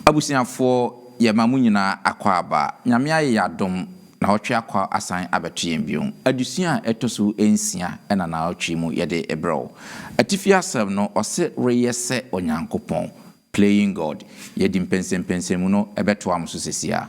Abusuafoɔ yɛma mo nyinaa akɔ aba. Nyame ayɛ yɛadom naawɔtwe akɔ asan abɛto yɛn bio. Adesua a ɛtɔso nsia na naawɔtwe mu yɛde brɛ wo. Atifi asɛm no ɔse reyɛ sɛ Onyankopɔn, Playing God. Yɛde mpɛnsɛmpɛnsɛmu no bɛtoa mo so sesiaa.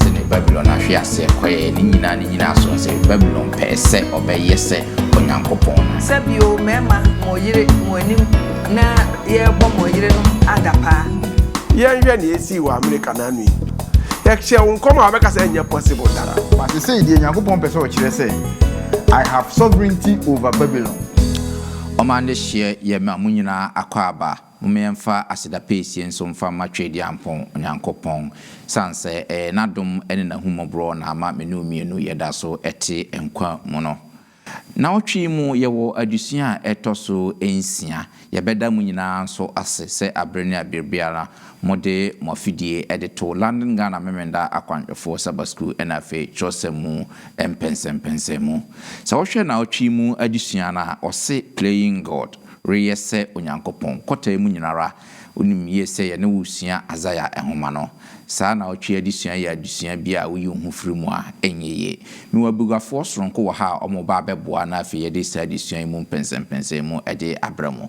Sɛdeɛ Babilon ahwe aseɛ kɔeɛ, ne nyinaa ne nyinaa so sɛ Babilon pɛɛ sɛ ɔbɛyɛ sɛ Onyankopɔn no. Sɛ bio, mmarima, mo yere mo anim na yɛrebɔ mo yerenom adapaa. Yɛnhwɛ nea esii wɔ Amerika naanu yi. Yɛhyɛɛ wo nkɔm a wobɛka sɛ ɛnyɛ possible da. But sesei deɛ Nyankopɔn pɛ sɛ ɔkyerɛ sɛ, I have sovereignty over Babylon. Ɔma adehyeɛ yɛ ma mo nyinaa akwaaba. Momma yɛmfa aseda pɛɛsie nso mfa mma Tweaduampɔn Onyankopɔn, sane sɛ ɛyɛ N'adom ne N'ahummɔborɔ na ama me ne wo mmienu yɛda so te nkwa mu no. Nnawɔtwe yi mu yɛwɔ adesua a ɛtɔ so nsia. Yɛbɛda mo nyinaa nso ase sɛ abere ne abere biara mode mo afidie de to London Ghana Memenda Akwanhwɛfoɔ Sabbath School ɛna afei twerɛsɛm mu mpɛnsɛmpɛnsɛn mu. Sɛ wohwɛ naawɔtwe yi mu adesua no a, wɔse Playing God, Reyɛ sɛ Onyankopɔn, nkɔtaeɛ mu nyina ara wonim yie sɛ yɛne wo resua Isaia nwoma no. Saa naawɔtwe yi adesua yɛ adesua bi a woyi wo ho firi mu a, ɛnyɛ yie. Mewɔ abuguafoɔ soronko wɔ ha a wɔreba abɛboa na afei yɛde saa adesua yi mu mpɛnsɛmpɛnsɛn mu de abrɛ mo.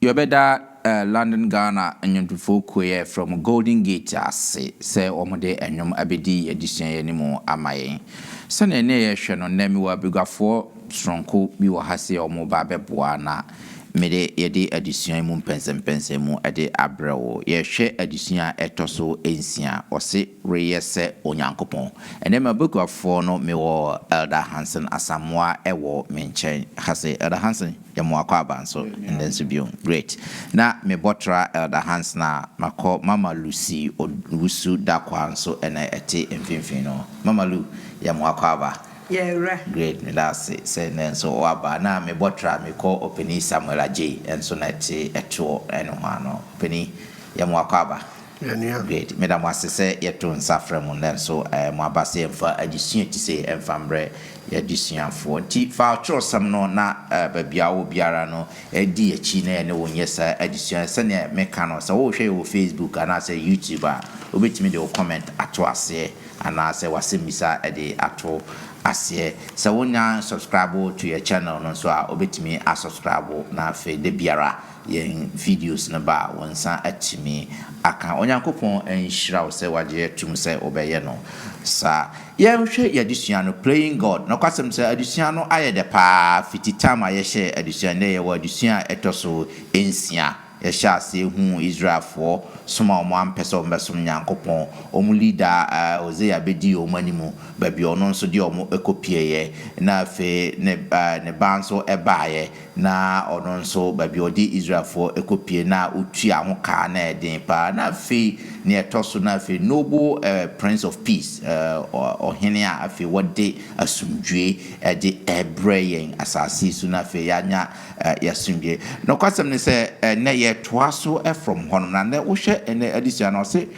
Yɛbɛda London Ghana Nnwontofoɔ Kuo yi a yɛfrɛ wɔn Golden Gate ase sɛ wɔde nnwom abɛdi yɛn adesua yi anim ama yɛn. Sɛdeɛ ɛnneɛ yɛrehwɛ no, nnɛ mewɔ abaguafoɔ sononko bi wɔ ha sɛ wɔreba abɛboa na mede yɛde adesua yi mu mpɛnsɛmpɛnsɛmu de abrɛ wo. Yɛrehwɛ adesua a ɛtɔ so nsia, wɔse Reyɛ sɛ Onyankopɔn. Ɛnnɛ m'abaguafoɔ no mewɔ Elder Hanson Asamoah wɔ me nkyɛn ha sɛ, Elder Hanson. Yɛ mo akwaaba nso nnɛ nso bio. Great. Na me bɔtra Elder Hanson a makɔ Mama Lucy Owusu Darkwaa nso na ɛte mfimfini no. Mama Lu, yɛ mo akwaaba. Yɛ werɛ. Great, meda ase sɛ nnɛ nso woaba. Na me bɔtra me kɔ Opanin Samuel Agyei nso na ɛte ɛtoɔ nohoa no. Opanin, yɛ mo akwaaba. Yɛnua. Great. Meda mo ase sɛ yɛto nsa frɛ mo nanso mo aba sɛ yɛmfa adesua ti sei mfa mbrɛ y'adesuafoɔ. Nti fa ɔtwerɛsɛm no na baabi a wowɔ biara no di y'akyi na yɛne wo nyɛ saa adesua yi. Sɛdeɛ meka no, sɛ wohwɛ yɛ wɔ Facebook anaasɛ YouTube a, wobɛtumi de wo comment ato aseɛ anaasɛ w'asɛmmisa de ato aseɛ. Sɛ wonnya subscribe to yɛ channel no nso a, wobɛtumi asubscribe na afei da biara. Yɛn videos no ba a, wo nsa atumi aka. Onyankopɔn nhyira wo sɛ wagye atum sɛ wobɛyɛ no saa. Yɛnhwɛ yɛn adesua no, Playing God. Nokwasɛm sɛ adesua no ayɛ dɛ paa fi tea time a yɛhyɛɛ adesua no. Nnɛ yɛwɔ adesua a ɛtɔ so nsia. Yɛhyɛɛ aseɛ huu Israelfoɔ som a wɔn ampɛ sɛ wɔbɛsom Nyankopɔn. Wɔn leader Hosea bɛdii wɔn anim, baabi a ɔno nso de wɔn kɔpieeɛ, na afei ne ne ba nso baeɛ. Na ɔno nso, baabi a ɔde Israelfoɔ kɔpue no a, ɔtuaa ho ka a, na ɛyɛ den pa ara. Na afei, deɛ ɛtɔ so no, afei noble prince of peace, ɔhene a afei wɔde asomdwoeɛ de rebrɛ yɛn asase yi so, na afei yɛanya yɛn asomdwoeɛ. Nokwasɛm ne sɛ, ɛnnɛ yɛretoa so from hɔnom. Na ɛnnɛ, wohwɛ ɛnnɛ adesua no a, ɔse,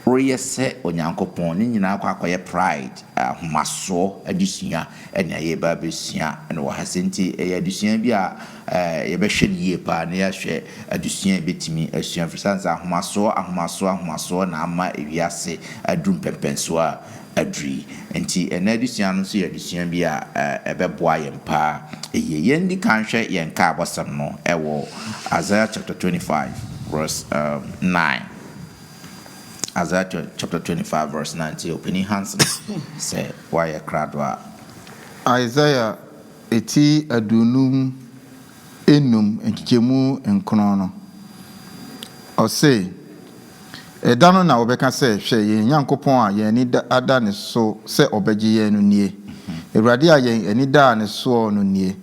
Woreyɛ sɛ Onyankopɔn, ne nyinaa akɔ akɔyɛ pride, ahomasoɔ adesua na yɛreba abɛsua no wɔ ha sɛ nti ɛyɛ adesua bi a yɛbɛhwɛ no yie paa na yɛahwɛ adesua a yɛbɛtumi asua ɛfiri sane sɛ ahomasoɔ ahomasoɔ ahomasoɔ na ama wiase aduru mpɛnpɛnsoɔ a aduru yi nti ɛnɛ adesua no nso yɛ adesua bi a ɛbɛboa yɛn paa yie yɛndi kan hwɛ yɛn ka abɔsɛm no ɛwɔ Isaiah chapter 25 verse um, 9 Isaiah chapter 25 verse 9 tie Opanin Hansen sɛ woayɛ krado a. Isaiah ti aduonum nnum nkyekyɛmu nkron no, ɔse, Ɛda no na wɔbɛka sɛ, Hwɛ, yɛn Nyankopɔn a yɛn ani ada ne so sɛ ɔbɛgye yɛn no nie, Awurade a yɛn ani daa ne soɔ no nie,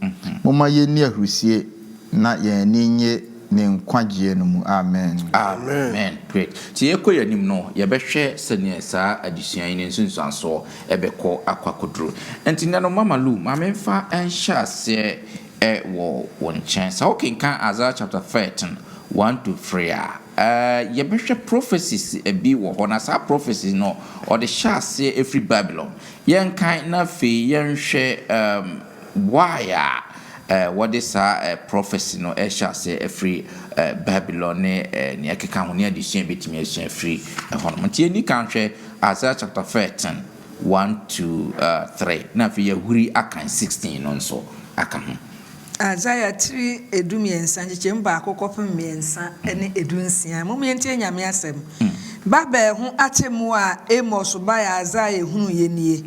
momma yɛnni ahurisie Na yɛn ani nnye Ne nkwagyeɛ no mu. Amen. Amen. Great. Sɛ yɛrekɔ yɛn anim no, yɛbɛhwɛ sɛdeɛ saa adesua yi ne nsunsuansoɔ bɛkɔ akɔ akɔduru. Nti nuanom, Mama Lu, ma memfa nhyɛ aseɛ wɔ wo nkyɛn. Sɛ wokenkan Isaiah chapter thirteen, one to three a, yɛbɛhwɛ prophecies bi wɔ hɔ, na saa prophecies no, wɔde hyɛ aseɛ firi Babylon. Yɛnkan na afei yɛnhwɛ. Boae a wɔde saa prɔfɛse no hyɛ aseɛ afiri Babilon ne nea ɛkeka ho, ne adesua a yɛbɛtumi asua afiri hɔnom. Nti yɛnni kan nhwɛ Isaiah chapter thirteen, one to three, na afei yɛahuri akan sixteen no nso aka ho. Isaiah tiri edu mmiɛnsa, nkyekyɛmu baako kɔpem mmiɛnsa ne edu nsia. Mom yɛntie Nyame asɛm. Babel ho atemmuo a Amos bae a Isaiah hunuiɛ nie,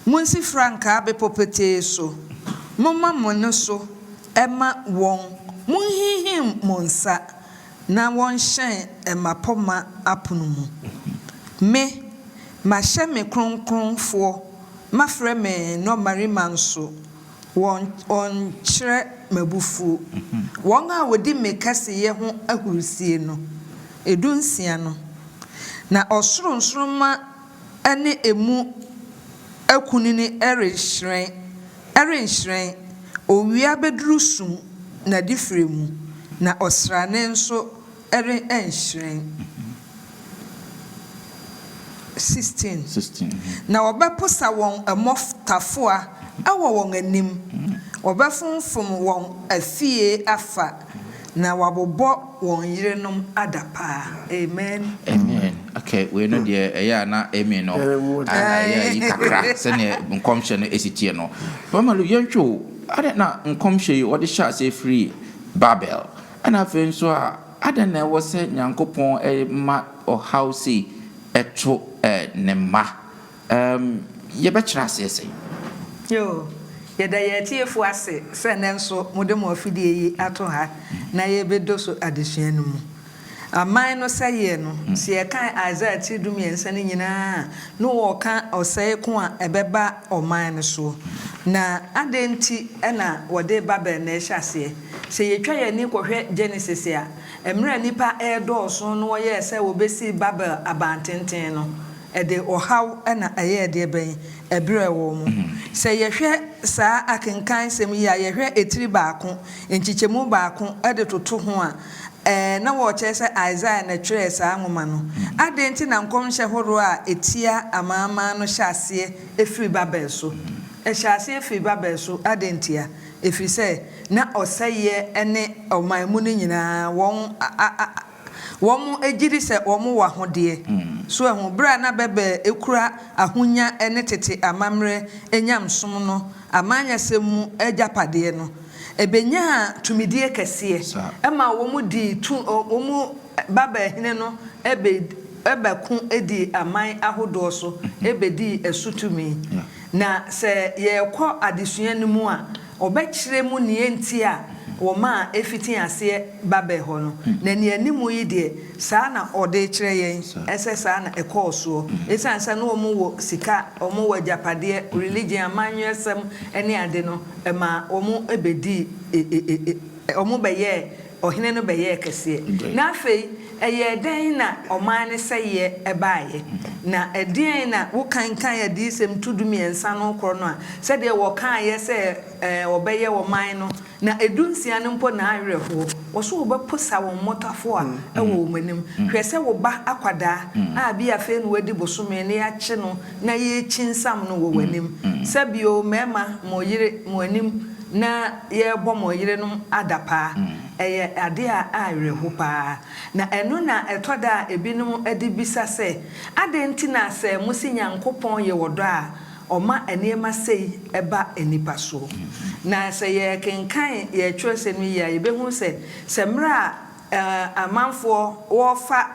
Monsi frankaa bepɔ petee so, momma mo nne so mma wɔn, monhinhim mo nsa na wɔnhyɛn mmapɔmma apono mu. Me, mahyɛ me kronkronfoɔ, mafrɛ me nnɔmmarima nso, wɔnkyerɛ m'abufuo. Wɔn a wɔdi me kɛseyɛ ho ahurisie no, ɛdu nsia no, na ɔsoro nsoromma. ne emu akunini rehyerɛn, ɛrenhyerɛn, owia bɛduru sum n'adifirɛ mu, na ɔsrane nso renhyerɛn. 16. 16. Na wɔbɛposa wɔn mmɔtafowa wɔ wɔn anim, wɔbɛfomfom wɔn afie afa. Na wabobɔ wɔn yerenom adapaa. Amen. Amen okay wei no deɛ ɛyɛ a na Amy no ayɛ ayi kakra sɛdeɛ nkɔmhyɛ no ɛsi teɛ no. Mama Lu yɛntwe o, adɛn na nkɔmhyɛ yi wɔde hyɛ aseɛ firi Babel? Ɛna afei nso a adɛn na ɛwɔ sɛ Nyankopɔn ma ɔhaw sei to Ne mma? Erm, yɛbɛkyerɛ aseɛ sɛn? Yoo, yɛda yɛn atiefo ase sɛ nnɛ nso mode mo afidie yi ato ha na yɛrebɛdɔ so adesua no mu. Aman no sɛeɛ no, sɛ yɛkan Isaiah tiri du-mmiɛnsa no nyinaa a, na wɔreka ɔsɛe ko a ɛbɛba ɔman no soɔ. Na adɛn nti na wɔde Babel na ɛhyɛ aseɛ? Sɛ yɛtwa yɛn ani kɔhwɛ Genesis a, mmerɛ a nnipa redɔɔso no wɔyɛɛ sɛ wɔbɛsii Babel abantenten no, Ɛde ɔhaw na ɛyɛɛ deɛ bɛn? Ɛberɛɛ wɔn. Sɛ yɛhwɛ saa akenkan nsɛm yi a, yɛhwɛ etiri baako, nkyekyɛmu baako de toto ho a, ɛɛ, na wɔrekyerɛ sɛ Isaiah na ɛtwerɛɛ saa nwoma no. Adɛn nti na nkɔmhyɛ horoɔ a ɛtia amanaman no hyɛ aseɛ firi Babel so? Ɛhyɛ aseɛ firi Babel so. Adɛn ntia? Ɛfiri sɛ na ɔsɛeɛ ne ɔman mu no nyinaa wɔn a, a, a, Wɔn gye di sɛ wɔn wɔ ahodeɛ. So ahu? Berɛ a na bɛbɛ kura ahonya ne tete amammerɛ nyamesom no amanyɛsɛm mu agyapadeɛ no, ɛbɛnyaa tumidie kɛseɛ maa wɔn dii tu, wɔn babaa hene no bɛ ko dii aman ahodoɔ so bɛdii so tumi. Na sɛ yɛrekɔ adesua no mu a, Ɔbɛkyerɛ mu nea enti a wɔmaa efitee aseɛ Babel hɔ no, na nea ɛne mu yi deɛ, saa na ɔde rekyerɛ yɛn sɛ saa na ɛkɔɔ soɔ. Esiane sɛ na wɔn wɔ sika, wɔn wɔ agyapadeɛ, religion, amanyɔsɛm ne ade no, ɛmaa wɔn bɛdii, wɔn bɛyɛɛ ɔhene no bɛyɛɛ kɛseɛ, na afei ɛyɛɛ dɛn na ɔman no sɛeɛ baeɛ? Na ɛdeɛn na wokankan Adiyisɛm tu dumiɛnsa no korɔ no a, sɛdeɛ wɔkaeɛ sɛ wɔbɛyɛ ɔman no, na ɛdu nsia no mpo na awerɛhoɔ, wɔso wɔbɛpo sa wɔn mmotafoɔ a ɛwɔ wɔn anim, hwɛ sɛ wo ba akwadaa a bi a afei na wadi bosome na yɛakye no na yɛrekyinnsam no wɔ w'anim, sɛ bio mmarima mo yere mo anim na. yɛrebɔ mo yerenom adapaa. Ɛyɛ ade a awerɛho paa, na ɛno na ɛtɔ da a ebinom de bisa sɛ, Adɛn nti na sɛ mose Nyankopɔn yɛ ɔdɔ a, ɔma nneɛma sei ba nnipa so? Na sɛ yɛkenkan yɛn twerɛsɛm yi yie a, yɛbɛhunu sɛ, sɛ mmerɛ a amanfoɔ wɔfa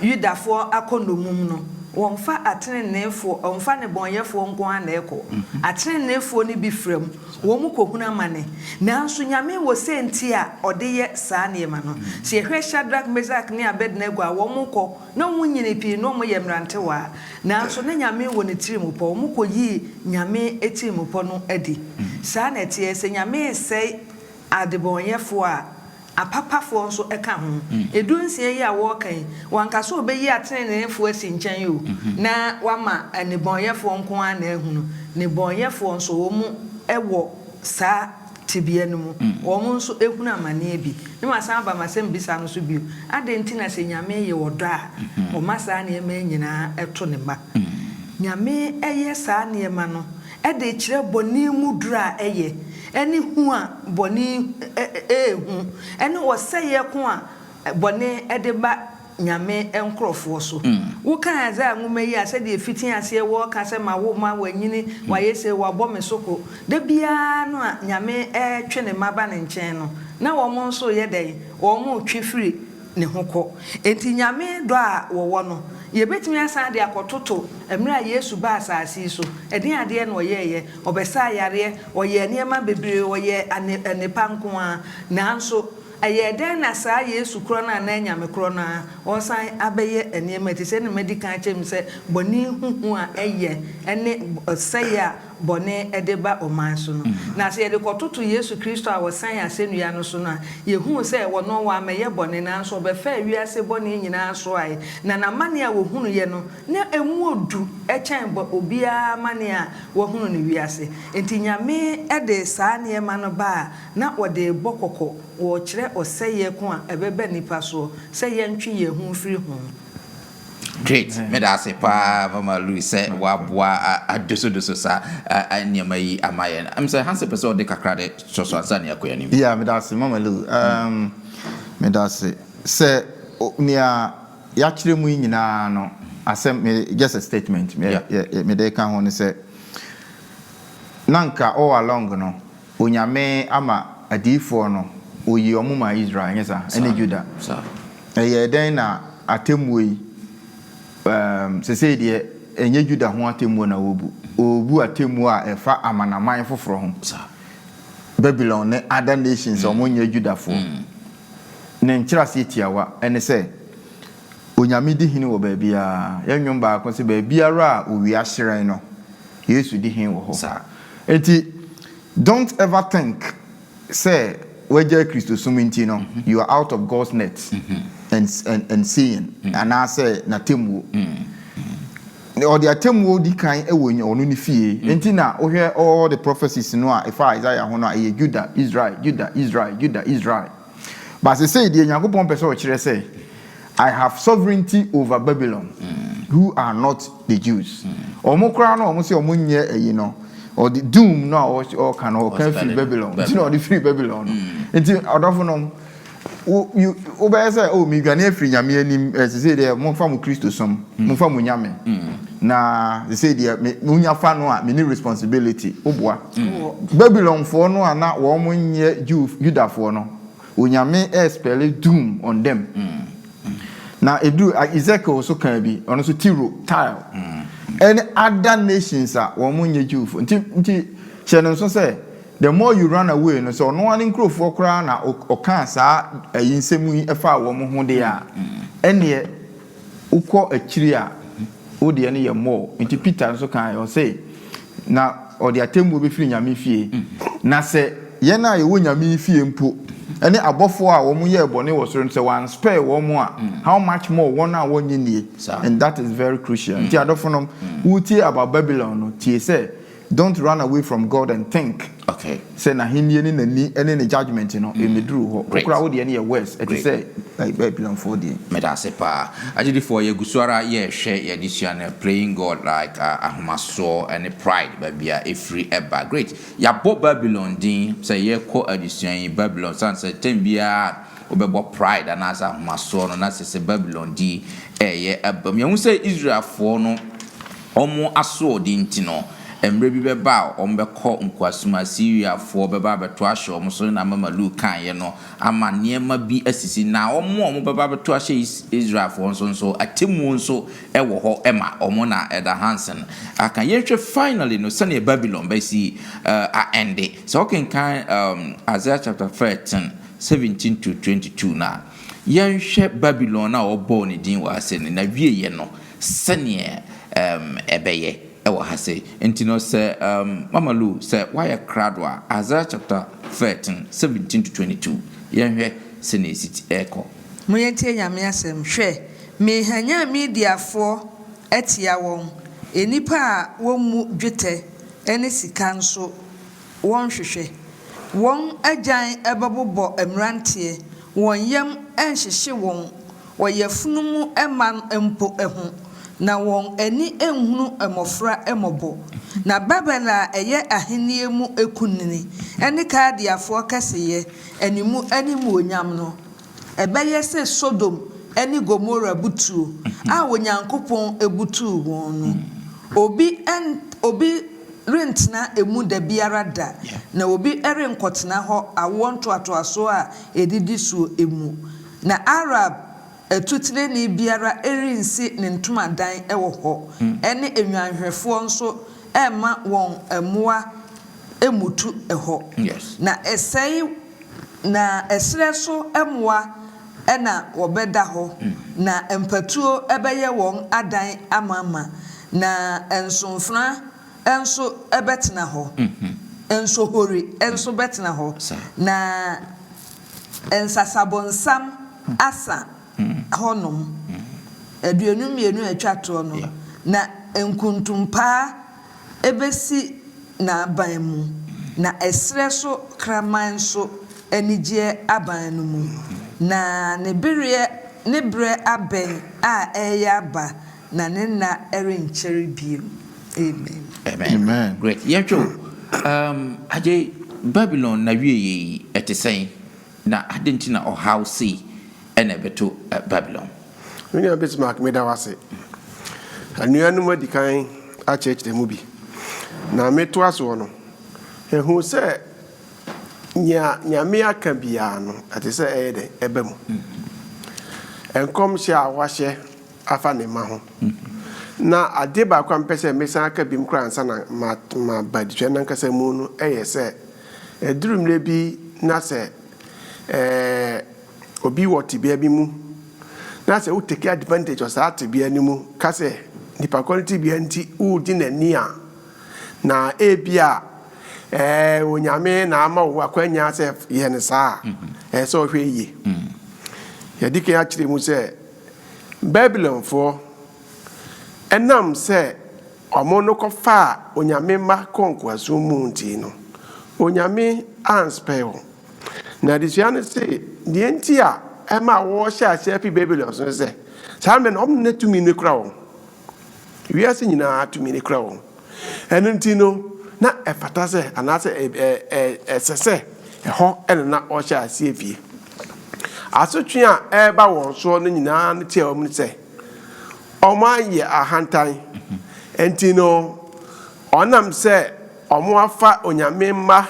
Yudafoɔ akɔ nnɔmum no, wɔmfa ateneneefoɔ, wɔmfa nnebɔneyɛfoɔ nko ara na ɛkɔ. Ateneneefoɔ no bi fira mu, wɔn kɔhunu amane. Nanso Nyame wɔ sɛnti a ɔde yɛ saa nneɛma no. Sɛ yɛhwɛ Shadrach, Meshach ne Abednego a, wɔkɔ, na wɔn nyini pii, na wɔyɛ mmerantewaa. Nanso na Nyame wɔ ne tirimupɔ, wɔkɔyii Nyame atirimpɔ no adi. Saa na ɛteɛ, sɛ Nyame resɛe adebɔneyɛfoɔ a, Apapafoɔ nso ka ho. Edu nsia yi a wɔreka yi, wanka sɛ obeyi ateneneefoɔ asi nkyɛn o, na wama nnebɔneyɛfoɔ nko ara na ahu no. Nnebɔneyɛfoɔ nso, wɔwɔ saa tebea no mu. Wɔn nso hunu amaneɛ bi. Na masan aba m'asɛmmisa no so bio, Adɛn nti na sɛ Nyame yɛ ɔdɔ a, ɔma saa nneɛma yi nyinaa to ne mma? Nyame yɛ saa nneɛma no de kyerɛ bɔne mu duru a ɛyɛ, ne hu a bɔne rehu, ne ɔsɛeɛ ko a bɔne de ba Nyame nkorɔfoɔ so. Wokan Isaiah nwoma yi a, sɛdeɛ ɛfiti aseɛ wɔreka sɛ, Ma wo mma wɔanyini, wɔayɛ sei, wɔabɔ me so ko. Da biara no a Nyame retwe Ne mma ba Ne nkyɛn no, na wɔn nso reyɛ dɛn? Wɔretwe firi ne ho kɔ. Enti Nyame dɔ a wɔwɔ no, yɛbɛtumi asan de akɔtoto mmerɛ a Yesu baa asase yi so, ɛdeɛn adeɛ na ɔyɛeɛ? Ɔbɛsaa yareɛ, ɔyɛɛ nneɛma bebree, ɔyɛɛ anepa nko ara. Nanso ɛyɛɛ dɛn na saa Yesu korɔ no a na ɛyɛ Nyame korɔ no ara, ɔsan abɛyɛ nneɛma yi? Te sɛ deɛ madi kan akyerɛ mu sɛ bɔne huhu a ɛyɛ ne ɔsɛeɛ a bɔne de ba ɔman so no. Na sɛ yɛde kɔtoto Yesu Kristo a ɔsɛn asɛnnua no so no a, yehu sɛ ɔno wammɛyɛ bɔne, nanso ɔbɛfaa wiase bɔne nyinaa soae, na n'amane a ohunuiɛ no, na emu wɔ du kyɛn obiara amane a wahunu no wiase. Enti Nyame de saa nneɛma no ba a na ɔde rebɔ kɔkɔ wɔ kyerɛ ɔsɛeɛ ko a ɛbɛba nnipa soɔ sɛ yɛntwe yɛn ho mfiri ho. Great! Meda ase paa Mama Lu sɛ woaboa adosodoso saa nneɛma yi ama yɛn. Ɛm sɛ Hansel pɛ sɛ ɔde kakra de to so ansa na yɛakɔ yɛn anim. Yeah, meda ase Mama Lu. Um, meda ase sɛ nea yɛakyerɛ mu yi nyinaa no, asɛm, just a statement, me, yeah. mede ka ho ne sɛ, na nka all along no, Onyame ama adiyifoɔ no, Ɔyii wɔn maa Israel, nyɛ saa? Ɛne Juda. Ɛyɛɛ dɛn na atemmuo yi, ɛɛm, sesei deɛ ɛnyɛ Juda ho atemmuo na wɔrebu, wɔrebu atemmuo a ɛfa amanaman foforɔ ho, Babylon ne other nations a wɔnyɛ Judafoɔ. Ne nkyerɛaseɛ tiawa ne sɛ, Onyame di hene wɔ baabiara. Yɛn nnwom baako se, Baabiara a owia hyerɛn no, Yesu di hene wɔ hɔ. Enti don't ever think sɛ wagyae Kristosom nti no you are out of God's net and and seeing anaasɛ N'atemmuo. Ɔde atemmuo di kan wɔ nya Ɔno Ne fie. Enti na wohwɛ all the prophecies no a ɛfa Isaiah ho no a ɛyɛ Judah, Israel, Judah, Israel, Judah, Israel. But sesei deɛ Nyankopɔn pɛ sɛ ɔkyerɛ sɛ, I have sovereignty over Babylon, who are not the Jews. Wɔn koraa no a wɔse wɔn nyɛ ayi no, ɔde doom no a ɔka no, ɔka firi Babylon, nti na ɔde firi Babylon no. Nti ɔdɔfonom, wo, you, wobɛyɛ sɛ, oh, medwane afiri Nyame anim, eh, sesei deɛ momfa mo Kristosom, momfa mo Nyame, na sesei deɛ me, monya fa no a, menni responsibility. Woboa. Babylonfoɔ no a na wɔn nnyɛ Yudafoɔ no, Onyame ɛɛspɛle doom on them. Na ɛduru, Ezekiel nso kaa bi, ɔno nso Tiro, Tyre, ɛne other nations a wɔn nnyɛ Jewfoɔ. Nti, nti hyɛ no nso sɛ, the more you run away no, sɛ ɔno ara ne nkurofoɔ koraa na ɔkaa saa ayi nsɛm yi faa wɔn ho deɛ a, ɛnneɛ, Wokɔ akyiri a, wo deɛ no yɛ more. Nti Peter nso kaeɛ, ɔse, Na ɔde atemmuo bɛfiri Nyame fie. Na sɛ yɛn a yɛwɔ Nyame fie mpo, ne abɔfoɔ a wɔn yɛɛ bɔne wɔ soro no, sɛ wɔan spare wɔn a, how much more wɔn a wɔnyɛ nie? And that is very crucial. Nti adɔfonom, woretie about Babylon no, tie sɛ, Don't run away from God and think sɛ n'ahennie ne n'ani ne ne judgement no mmeduru hɔ. Wo koraa wo deɛ no yɛ worse, ɛte sɛ Babilonfoɔ deɛ. Meda ase paa. Agyidifoɔ, yɛgu so ara yɛrehwɛ yɛn adesua no, Playing God Like a Ahomasoɔ ne Pride, Baabi a Ɛfiri Ba. Great! Yɛabɔ Babilon din sɛ yɛrekɔ adesua yi. Babilon, sane sɛ tɛm biara a wobɛbɔ pride anaasɛ ahomasoɔ no, na kyerɛ sɛ Babilon din reyɛ abam. Yɛahu sɛ Israelfoɔ no Wɔn asoɔden nti no, mmerɛ bi bɛba a wɔbɛkɔ nkoasom a Siriafoɔ bɛba abɛto ahyɛ wɔn so, na mama Luk kaeɛ no ama nneɛma bi asisi. Na wɔn a wɔbɛba abɛto ahyɛ Israelfoɔ nso nso, atemmuo nso wɔ hɔ ma wɔn, na Elder Hansen aka. Yɛnhwɛ finally no sɛdeɛ Babylon bɛsi a ɛnde. Sɛ wokenkan Isaiah chapter thirteen, seventeen to twenty two no a, yɛnhwɛ Babylon no a wɔbɔɔ ne din wɔ ha sɛ no, n'awieɛ no, Sɛdeɛ ɛbɛyɛ wɔ ha sei nti no, sɛ Mama Lu sɛ woayɛ krado a, Isaiah chapter thirteen, seventeen to twenty two, yɛnhwɛ sɛdeɛ ɛsi kɔ. Monyɛ ntie Nyame asɛm, hwɛ, merehanyan Mediafoɔ atia wɔn, nnipa a wɔmmu dwetɛ ne sika nso wɔnhwehwɛ, wɔn agyan bɛbobɔ mmeranteɛ, wɔn yam renhyehye wɔn, Wɔ yafunu mu mma no mpo ho, na wɔn ani nhunu mmofra mmɔbɔ. Na Babel a ɛyɛ ahenni mu kunini ne Kaldeafoɔ kɛseyɛ ne mu animuonyam no, ɛbɛyɛ sɛ Sodom ne Gomora butuo a Onyankopɔn butuu wɔn no. Obi obi rentena emu da biara da, na obi renkɔtena hɔ awoɔ ntoatoasoɔ a ɛdidi soɔ mu. Na Arab atutenenee biara rensi ne ntomadan wɔ hɔ, ɛne nnwanhwɛfoɔ nso remma wɔn mmoa mmutu hɔ. Na ɛsɛe na ɛserɛ so mmoa na wɔbɛda hɔ, na mpatuo bɛyɛ wɔn adan amamma, na nsomfena nso bɛtena hɔ, nsohori nso bɛtena hɔ, na. Nsasabonsam Asa hɔnom aduonu mmienu a ɛtwa toɔ no, na nkontompaa bɛsi n'aban mu, na ɛserɛ so kraman nso anigyeɛ aban no mu, na ne bereɛ ne berɛ abɛn a ɛreyɛ aba, Na ne nna ɛrenkyɛre bio. Amen. Amen. Great. Yɛhwɛ o, um, Agyei, Babylon n'awieyɛ yi, ɛte sɛn? Na adɛn nti na ɔhaw sei ɛna ɛbɛto eh, Babylon? Me nua Bismarck, meda wo ase. Anuanom adi kan akyerɛkyerɛ mu bi, na metoa soɔ no, ɛhu sɛ nea Nyame aka biara no, ɛte sɛ ɛyɛ dɛn? Ɛba mu. Nkɔmhyɛ a wahyɛ afa ne mma ho. Na adeɛ baako a mepɛ sɛ mesan aka biom koraa ansa na maba adetwɛn no ankasa mu no yɛ sɛ, ɛduru mmerɛ bi na sɛ obi wɔ tebea bi mu na sɛ wo take advantage of saa tebea no mu ka sɛ nipa korɔ no tebea nti wogye n'ani a, na ebia Onyame na ama wo akwanya sɛ yɛ no saa a, ɛsɛ sɛ ɔhwɛ yie. Yɛadi kan akyerɛ mu sɛ, Babilonfoɔ, ɛnam sɛ wɔn no kɔfaa Onyame mma kɔɔ nkoasom mu nti no, Onyame anspare wɔn. Na adesua no se, deɛ nti a ɛmaa wɔhyɛɛ aseɛ fii Babilon so ne sɛ, saa mmerɛ no wɔn na tumi no kura wɔn. Wiase nyinaa tumi no kura wɔn. Ɛno nti no, na ɛfata sɛ anaasɛ ɛsɛ sɛ ɛhɔ na na wɔhyɛ aseɛ fie. Asotwe a ɛreba wɔn soɔ no nyinaa no kyerɛ wɔn sɛ wɔayɛ ahantan. Ɛnti no, wɔnam sɛ wɔafa Onyame mma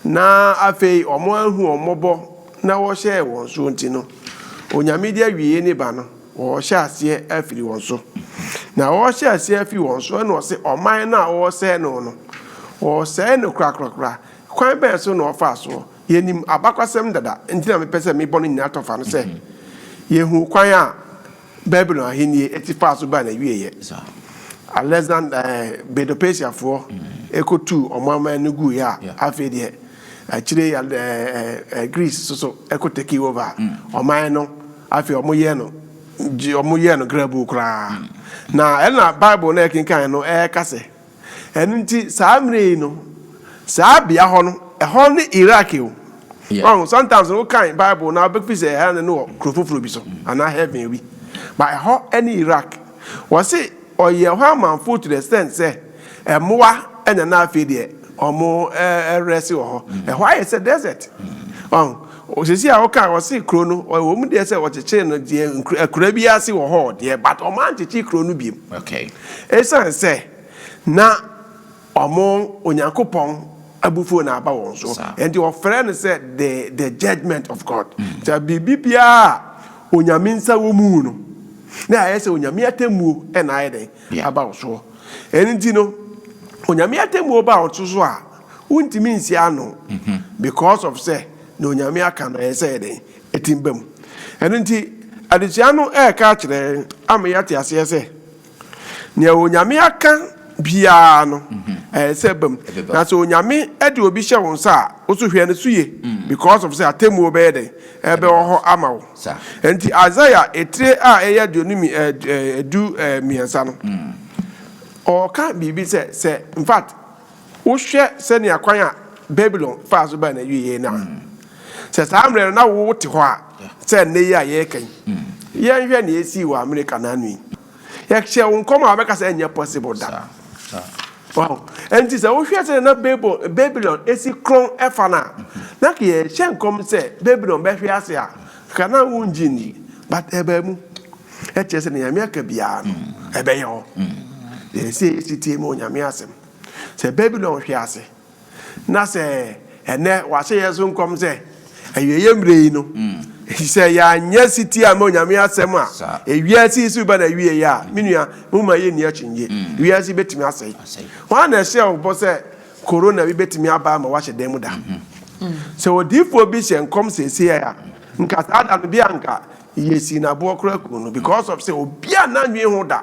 na afei wɔanhu wɔn mmɔbɔ na wɔhyɛɛ wɔn soɔ nti no, Onyame de awieɛ no ba no, wɔhyɛ aseɛ afiri wɔn so. Na wɔhyɛ aseɛ afiri wɔn so ɛna ɔse ɔman no a wɔresɛe no no, wɔresɛe no korakorakora. Kwan bɛn so na ɔfaa soɔ? Yɛnim abakwasɛm dada, nti na mepɛ sɛ mebɔ no nyinaa tɔ fa no sɛ, yɛhunu kwan a Babilon ahennie ɛte faa so baa n'awieeɛ. Alexander, ɛɛ, Medo-Persiafoɔ ɛkɔtuu wɔn aman no guiɛ a, afei deɛ, Akyire yi Greece nso so ko take over ɔman no. Afei wɔyɛɛ no wɔyɛɛ no grabuu koraa. Na ɛna Bible no a yɛkenkan no ɛreka sɛ, ɛno nti saa mmerɛ yi no, saa bea hɔ no, ɛhɔ ne Iraq o. Wahu, sometimes no wokan Bible no a wobɛfi sɛ ɛha ne no wɔ kuro foforɔ bi so anaa heaven bi. But ɛhɔ ne Iraq. Wɔse ɔyɛ hɔ amanfoɔ to the extent sɛ mmoa anya na afei deɛ wɔn rest wɔ hɔ. Ɛhɔ ayɛ sɛ desert. Ɔho, sisi a woka wɔse kuro no ɛwɔ mu deɛ sɛ wɔkyekyere no deɛ akura bi ase wɔ hɔ deɛ but wɔn ankyekye kuro no biom. Ɛsan sɛ na. Wɔn, Onyankopɔn abufuo na aba wɔn so. Enti wɔfrɛ no sɛ the the judgement of God. Sɛ biribi biara a Onyame nsa wɔ mu no, na ayɛ sɛ Onyame atemmuo na ayɛ dɛn? Aba wo soɔ. Ɛno nti no, Onyame atemmuo ba wo so a, wontumi nsi ano because of sɛ deɛ Onyame aka no ayɛ sɛ ɛyɛ dɛn? Atim ba mu. Ɛno nti, adesua no ɛreka akyerɛ yɛn ama yɛate aseɛ sɛ, Nea Onyame aka biara no, ɛyɛ sɛ ɛba mu. Na sɛ Onyame de obi hyɛ wo nsa a, wo nso hwɛ no so yie, because of sɛ atemmuo bɛyɛ dɛn? Ɛbɛwɔ hɔ ama wo. Enti Isaiah etire a ɛyɛ aduonu mmi ɛɛ du mmiɛnsa no, ɔɔka biribi sɛ, sɛ, in fact, Wohwɛ sɛnea kwan a Babilon faa so baa n'awieeɛ no a, sɛ saa mmerɛ no na wote hɔ a sɛ nnɛ yi a yɛreka yi? Yɛnhwɛ nea ɛsii wɔ Amerika naano yi. Yɛhyɛɛ wo nkɔm a wobɛka sɛ ɛnyɛ possible da. Wow! Enti sɛ wohwɛ sɛnea na Babel, Babilon si korɔn fa no a, na anka yɛhyɛ nkɔm sɛ Babilon bɛhwe ase a, anka na wongye nni. But ɛbaa mu. Ɛkyerɛ sɛ nea Nyame aka biara no, ɛbɛyɛ hɔ. Yɛn sɛ yɛsi tie ma Onyame asɛm. Sɛ Babilon hwe ase, na sɛ ɛnnɛ wɔahyɛ yɛn so nkɔm sɛ, Awieeɛ mmerɛ yi no, ɛfiri sɛ yɛanyɛ setie amma Onyame asɛm a, wiase yi so reba n'awieeɛ a, me nua, momma yɛnni akyinnye. Wiase yi bɛtumi asɛe. Hwan na ɛhyɛɛ wo bɔ sɛ Corona bi bɛtumi aba ama woahyɛ dan mu da? Sɛ odiyifoɔ bi hyɛ nkɔm seesei a, nka saa da no bi a nka yɛsii no aboɔ koraa kum no because of sɛ obiara nna nnwen ho da.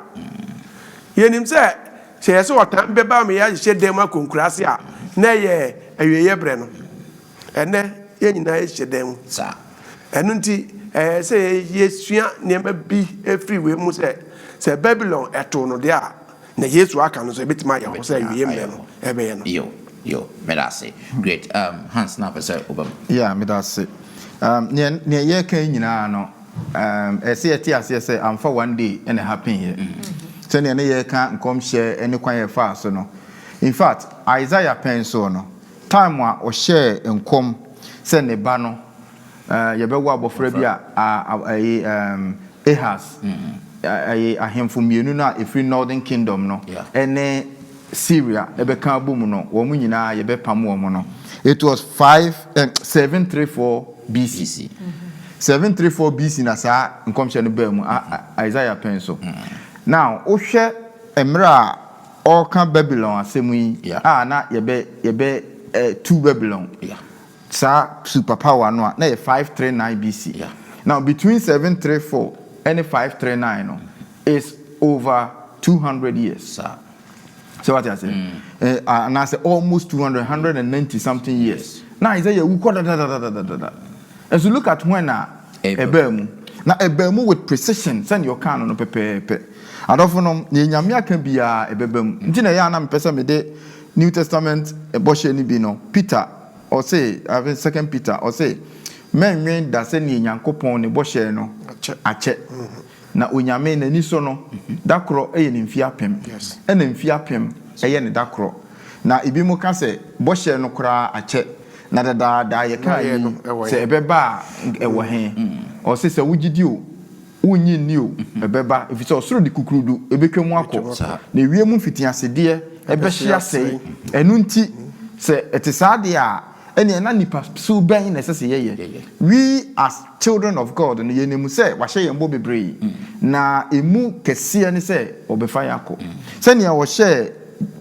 Yɛnim sɛ Sɛ ɛyɛ sɛ ɔtan bɛba ama yɛahyehyɛ dan mu akɔ nkuraase a, na ɛyɛ awieeɛ berɛ no. Ɛnnɛ, yɛn nyinaa yɛhyehyɛ dan mu saa. Ɛno nti, ɛyɛ sɛ yɛsua nneɛma bi firi wei mu sɛ, sɛ Babilon too no deɛ a, nea Yesu aka no nso, ɛbɛtumi ayɛ hɔ sɛ awieeɛ mmerɛ no ɛbɛyɛ no. Yo, yo, meda ase. Great. Um, Hans, na wopɛ sɛ woba mu? Yeah, meda ase. Um, nea, nea yɛreka yi nyinaa no, Erm ɛsɛ yɛte aseɛ sɛ amfa one day na ɛhapeneeɛ sɛdeɛ ne yɛreka nkɔmhyɛ ne kwan a ɛfaa so no. In fact, Isaiah pɛn nso no, time a ɔhyɛɛ nkɔm sɛ ne ba no, erm yɛbɛwo abɔfra bi a, ah ɛyi erm Ahaz, ɛyi ahemfo mmienu no a ɛfiri Northern Kingdom no, ɛne. Syria bɛka abom no, wɔn nyinaa yɛbɛpam wɔn no. It was five eh, seven three four BC. BC. Seven three four BC na saa nkɔmhyɛ no baa mu a a- Isaiah pɛn so. Now wohwɛ mmerɛ a ɔreka Babylon asɛm yi Yeah. a na yɛbɛ yɛbɛ eh, tu Babylon Yeah. saa super power no a na yɛ five three nine BC. Yeah. Now between seven three four ɛne five three nine no is over two hundred years. Saa. sɛ wate ase eh, anaasɛ almost 200 190 something years na isaiah wu kɔ dadadadadada and so look at when a ɛbaa mu na ɛbaa mu with precision sɛnea ɔkaa no no pɛpɛɛpɛ adɔfo nom nea nyame aka biara ɛbɛba mu nti na ɛyɛ a na mepɛ sɛ mede new testament bɔhyɛ no bi no peter ɔse second peter ɔse mɛnwen da sɛnea nyankopɔn ne bɔhyɛ no akyɛ mm-hmm. Na Onyame n'aniso no, da korɔ yɛ ne mfie apem, ɛna mfie apem yɛ ne da korɔ. Na ebinom ka sɛ, Bɔhyɛ no koraa akyɛ, na dadaada yɛkaa yi sɛ ɛbɛba a nka ɛwɔ he? Ɔse, Sɛ wogye di o, wonnye nni o, ɛbɛba, efisɛ ɔsoro de kukurudu betwa mu akɔ, na wiem mfitiasedeɛ bɛhye asɛe. Ɛno nti, sɛ ɛte saa deɛ a, Ɛnneɛ na nipa su bɛn na ɛsɛ sɛ yɛyɛ? We as children of God no, yɛnim sɛ Wahyɛ yɛn bɔ bebree, na ɛmu kɛseɛ ne sɛ Ɔbɛfa yɛn akɔ. Sɛdeɛ Ɔhyɛɛ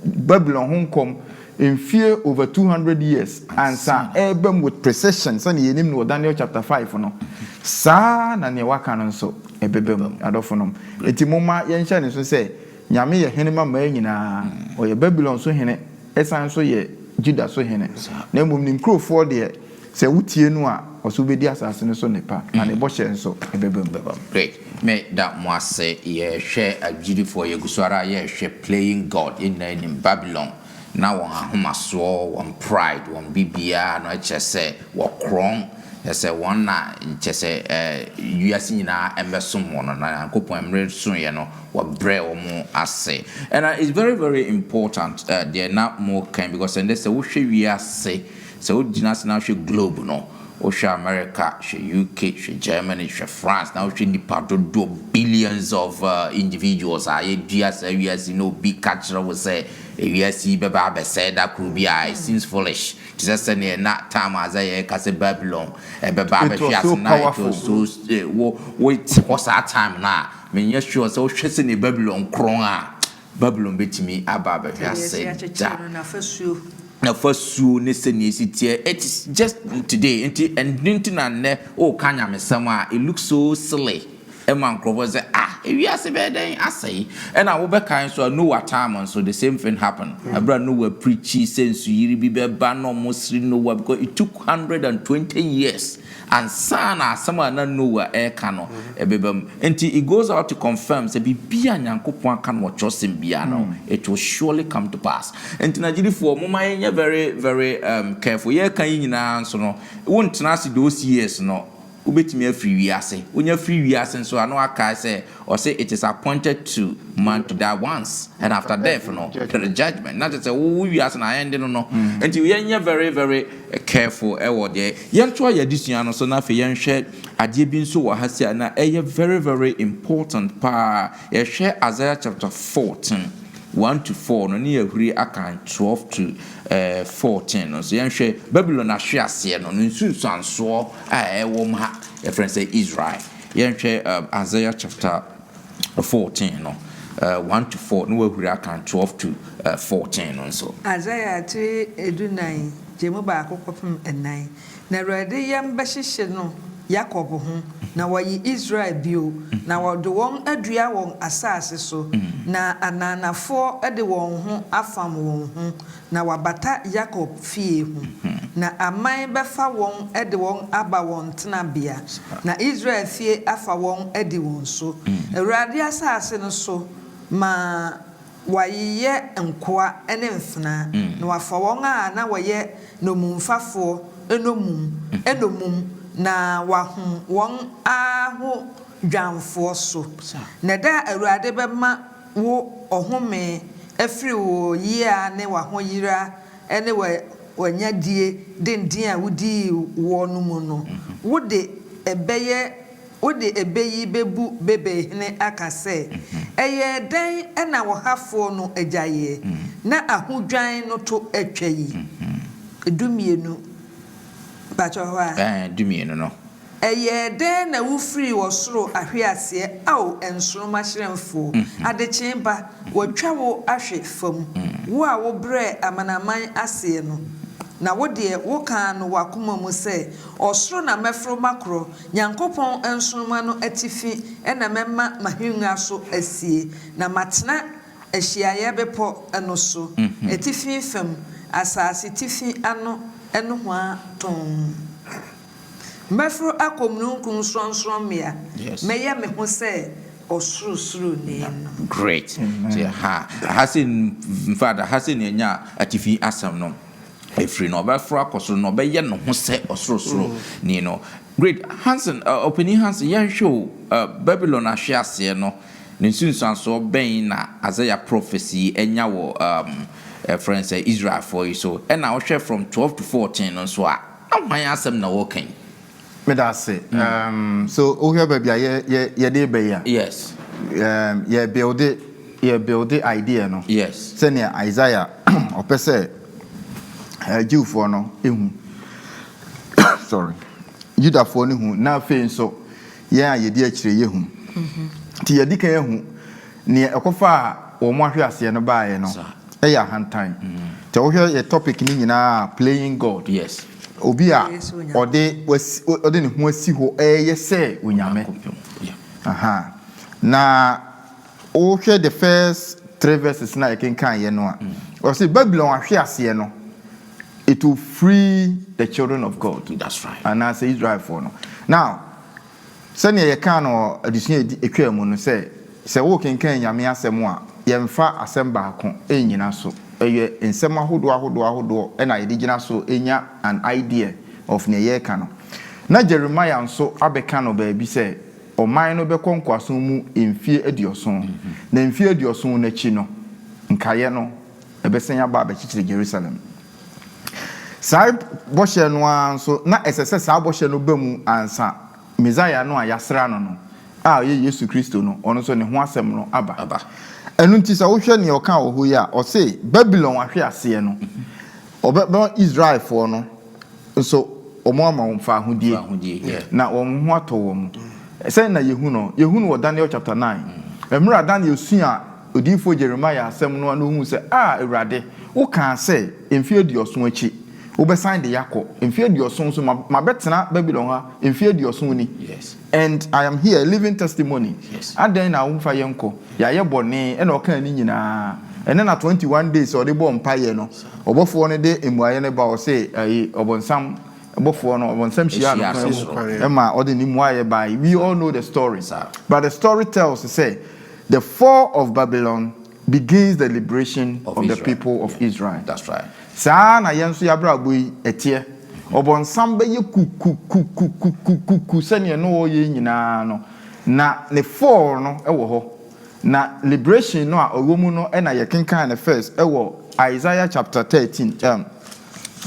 Babylon ho nkɔm mfeɛ over two hundred years ansa ɛreba mu with precision sɛdeɛ yɛnim no wɔ Daniel chapter five no, saa ara na deɛ Waka no nso ɛbɛba mu, adɔfonom. Enti momma yɛnhyɛ no nso sɛ Nyame yɛ Hene ma mmaa nyinaa. Ɔyɛ Babylon so Hene. Ɛsan so yɛ Juda so hene. Na mmom ne nkurofoɔ deɛ, sɛ wotie no a, ɔse wobɛdi asase no so nnepa, na ne bɔhyɛ nso ɛbɛba mu. Bɛba mu. Great. Me da mo ase. Yɛ hwɛ agyidifoɔ, yɛ gu so ara yɛ hwɛ playing God. Yɛn nyinaa nim Babylon. Na wɔn ahomasoɔ, wɔn pride, wɔn biribiara no kyerɛ sɛ wɔ korɔn. Kyerɛ sɛ wɔn na kyerɛ sɛ eh, wiase nyinaa mmɛsom wɔn. Na Nyankopɔn mmere soeɛ no, Wɔbrɛ wɔn ase. Ɛna it's very very important deɛ na mo kan because ɛndɛ sɛ wo hwɛ wiase sɛ wo gyina ase na ahwɛ globe no wo hwɛ America hwɛ UK hwɛ Germany hwɛ France na wo hwɛ nipa dodoɔ billions of individuals a yɛ dua saa wiase yi na obi ka kyerɛ wo sɛ ewiase yi bɛba abɛ sɛɛ da koro bi a it seems foolish te sɛ sɛdeɛ na time Isaiah ɛka sɛ Babylon ɛbɛba abɛ hwe ase na it was so wo wo te hɔ saa time no a. Menyɛ sure sɛ wohwɛ sɛnea Babilon korɔn a, Babilon betumi aba abɛhwɛ ase da. N'afasuo ne sɛnea esi teɛ, it is just today. Nti ɛno nti na nnɛ woka nyamesɛm a, it looks so silly ma nkurɔfoɔ sɛ ah, ewiase bɛyɛ dɛn asɛe? Ɛna wobɛkae nso a, Noah time nso, the same thing happen. Ɛberɛ a Noah preachii sɛ nsuyiri bi bɛba na wɔsere Noah because it took hundred and twenty years. Ansa na asɛm a na Noa reka no bɛba mu. Enti it goes out to confirm sɛ biribi a Nyankopɔn aka no wɔ kyerɛwsɛm biara no, it will surely come to pass. Enti na gyidifo, momma yɛnyɛ very, very careful. Yɛreka yi nyinaa nso no, wontena ase those years no, wobɛtumi afiri wiase. Wonya firi wiase nso a, na woakae sɛ Ɔse it is appointed to man to die once and after death no there is judgement na kyerɛ sɛ wo wo wiase no aɛnde no no nti yɛnyɛ very very careful wɔ deɛ yɛtoa yɛn adesua no so na afei yɛnhwɛ adeɛ bi nso wɔ ha si a na ɛyɛ very very important paa yɛhwɛ Isaiah chapter 14 1 to 4 no ne yɛhuri akan 12 to eh, 14 no nso yɛnhwɛ Babylon ahwe aseɛ no no nsunsuansoɔ a ɛwɔ mu ha yɛfrɛ sɛ Israel Yɛnhwɛ Isaiah chapter fourteen no, one to four, na woahuri aka twelve to fourteen no nso. Isaiah tiri du nan gye mu baako kɔpem nan, na Awurade yam bɛhyehye no Yakob ho, na wayi Israel bio, na ɔde wɔn adua wɔn asaase so, na ananafoɔ de wɔn ho afam wɔn ho, Na wɔabata Yakob fie ho. Na aman bɛfa wɔn de wɔn aba wɔn tenabea, na Israel fie afa wɔn adi wɔn so, Awurade asase no so, ma wɔayeyɛ nkoa ne mfenaa, na wɔafa wɔn a na wɔyɛ nnommumfafoɔ nnommum nnommum, na wɔahom wɔn ara ho dwanfoɔ so. Na da a Awurade bɛma. wo ɔhome afiri wo yea ne w'ahoyera ne w'anya die denden a wodii woɔ no mu no, wode ɛbɛyɛ wode ɛbɛ yi bɛbu Babel hene aka sɛ, Ɛyɛɛ dɛn na ɔhafoɔ no agyaeɛ, na ahodwan no to atwa yi? Dummienu, mpakyɛw hɔ a. Ɛɛ, dummienu no. Ɛyɛɛ dɛn na wufirii ɔsoro ahweaseɛ, Ao nsoromma hyerɛnfoɔ? Adekyee ba, wɔatwa wo ahwe fam, Wo a wobrɛɛ amanaman aseɛ no. Na wo deɛ, wokaa no w'akoma mu sɛ, 'Ɔsoro na mɛforo makorɔ, Nyankopɔn nsoromma no atifi na mɛma m'ahennwa so asie, Na matena ahyiaeɛ bepɔ no so, atifi fam, Asasetifi ano nohoa tɔnn. Mɛforo akɔ mununkum sorɔnsorɔmmea, mɛyɛ me ho sɛ Ɔsorosoroni no. Great. Nti ɛha, ɛha sɛ, in fact, ɛha sɛ nea ɛnya atifi asɛm no firi no. Ɔbɛforo akɔ soro na ɔbɛyɛ ne ho sɛ Ɔsorosoroni no. Great. Hanson, Ɔpanin Hanson, yɛnhwɛ o, Babilon ahweaseɛ no, ne nsunsuansoɔ bɛn na Isaiah prophecy yi anya wɔ, um, yɛfrɛ no sɛ, Israelfoɔ yi so? Ɛna wohwɛ from twelve to fourteen no nso a, Na hwan asɛm na wɔka yi? Meda ase. Um, so wohwɛ baabi a yɛ yɛ yɛde reba yi a. Yes. Um, yɛ build yɛ build idea no. Yes. Sɛnea Isaiah ɔpɛ sɛ uh, Jewfoɔ no ehu. Sorry. Yudafoɔ no hu na afei nso Yɛn a yedi akyire yi ahu. Enti yɛadi kan ahu nea ɛkɔfaa wɔn ahweaseɛ no baeɛ no yɛ ahantan. Sɛ wohwɛ yɛn topic no nyinaa a, Playing God, obi a ɔde ɔde ne ho asi hɔ reyɛ sɛ onyame. Aha, na. Wohwɛ the first three verses no a yɛkenkaeɛ no a, ɔse Babylon ahweaseɛ no, it will free the children of God, That's right. anaasɛ Israelfoɔ no. Now, sɛdeɛ yɛkaa no wɔ adesua a ɛdi ɛtwaa mu no sɛ, sɛ wokenkan Nyame asɛm a, yɛmfa asɛm baako nnyina so. Ɛyɛ nsɛm ahodoɔ ahodoɔ ahodoɔ na yɛde gyina so nya an idea of neɛ yɛreka no. Na Jeremiah nso abɛka no baabi sɛ, Ɔman no bɛkɔ nkoasom mu mfeɛ aduɔson, na mfeɛ aduɔson no akyi no, nkaeɛ no bɛsan aba abɛkyekyere Yerusalem. Saa bɔhyɛ no ara nso, na ɛsɛ sɛ saa bɔhyɛ no ba mu ansa Mesaia no a wɔasra no no, a ɔyɛ Yesu Kristo no, ɔno nso ne ho asɛm no aba. Ɛno nti, sɛ wohwɛ nea ɔka wɔ hɔ yi a, ɔse Babilon ahweaseɛ no, ɔbɛma Israelfoɔ no Nso wɔama wɔn fawohodie, na wɔn ho atɔ wɔn. Sɛn na yɛhu no? Yɛhu no wɔ Daniel chapter nine. Mmerɛ a Daniel suaa odiyifoɔ Jeremiah asɛm no a na ɔhunu sɛ, Ah Awurade, wokaa sɛ, mfeɛ aduɔson akyi, wobɛsan de yɛakɔ, mfeɛ aduɔson nso, mabɛtena Babilon ha mfeɛ aduɔson ni. And I am here, living testimony Adɛn na wo mfa yɛn kɔ? Yɛayɛ bɔne Ɛna ɔkaa ne nyinaa Ɛnɛ na twenty one days a ɔde bɔɔ mpaeɛ no Ɔbɔfoɔ no de mmuaeɛ no ba Ɔse ɛyi ɔbɔnsam Ɔbɔfoɔ no ɔbɔnsam hyiaa no kwan mu Ɛma ɔde ne mmuaeɛ baeɛ We all know the story But the story tells sɛ The fall of Babylon Begins the liberation of the people of Israel. Saa ara na yɛn nso y'abrabɔ yi ɛteɛ. Ɔbɔnsam bɛyɛ kukukukukukukuku sɛdeɛ na ɔyɛ yi nyinaa no, na ne fall no wɔ hɔ. Na liberation no a ɛwɔ mu no na yɛkenkan no first wɔ Isaiah chapter thirteen, um,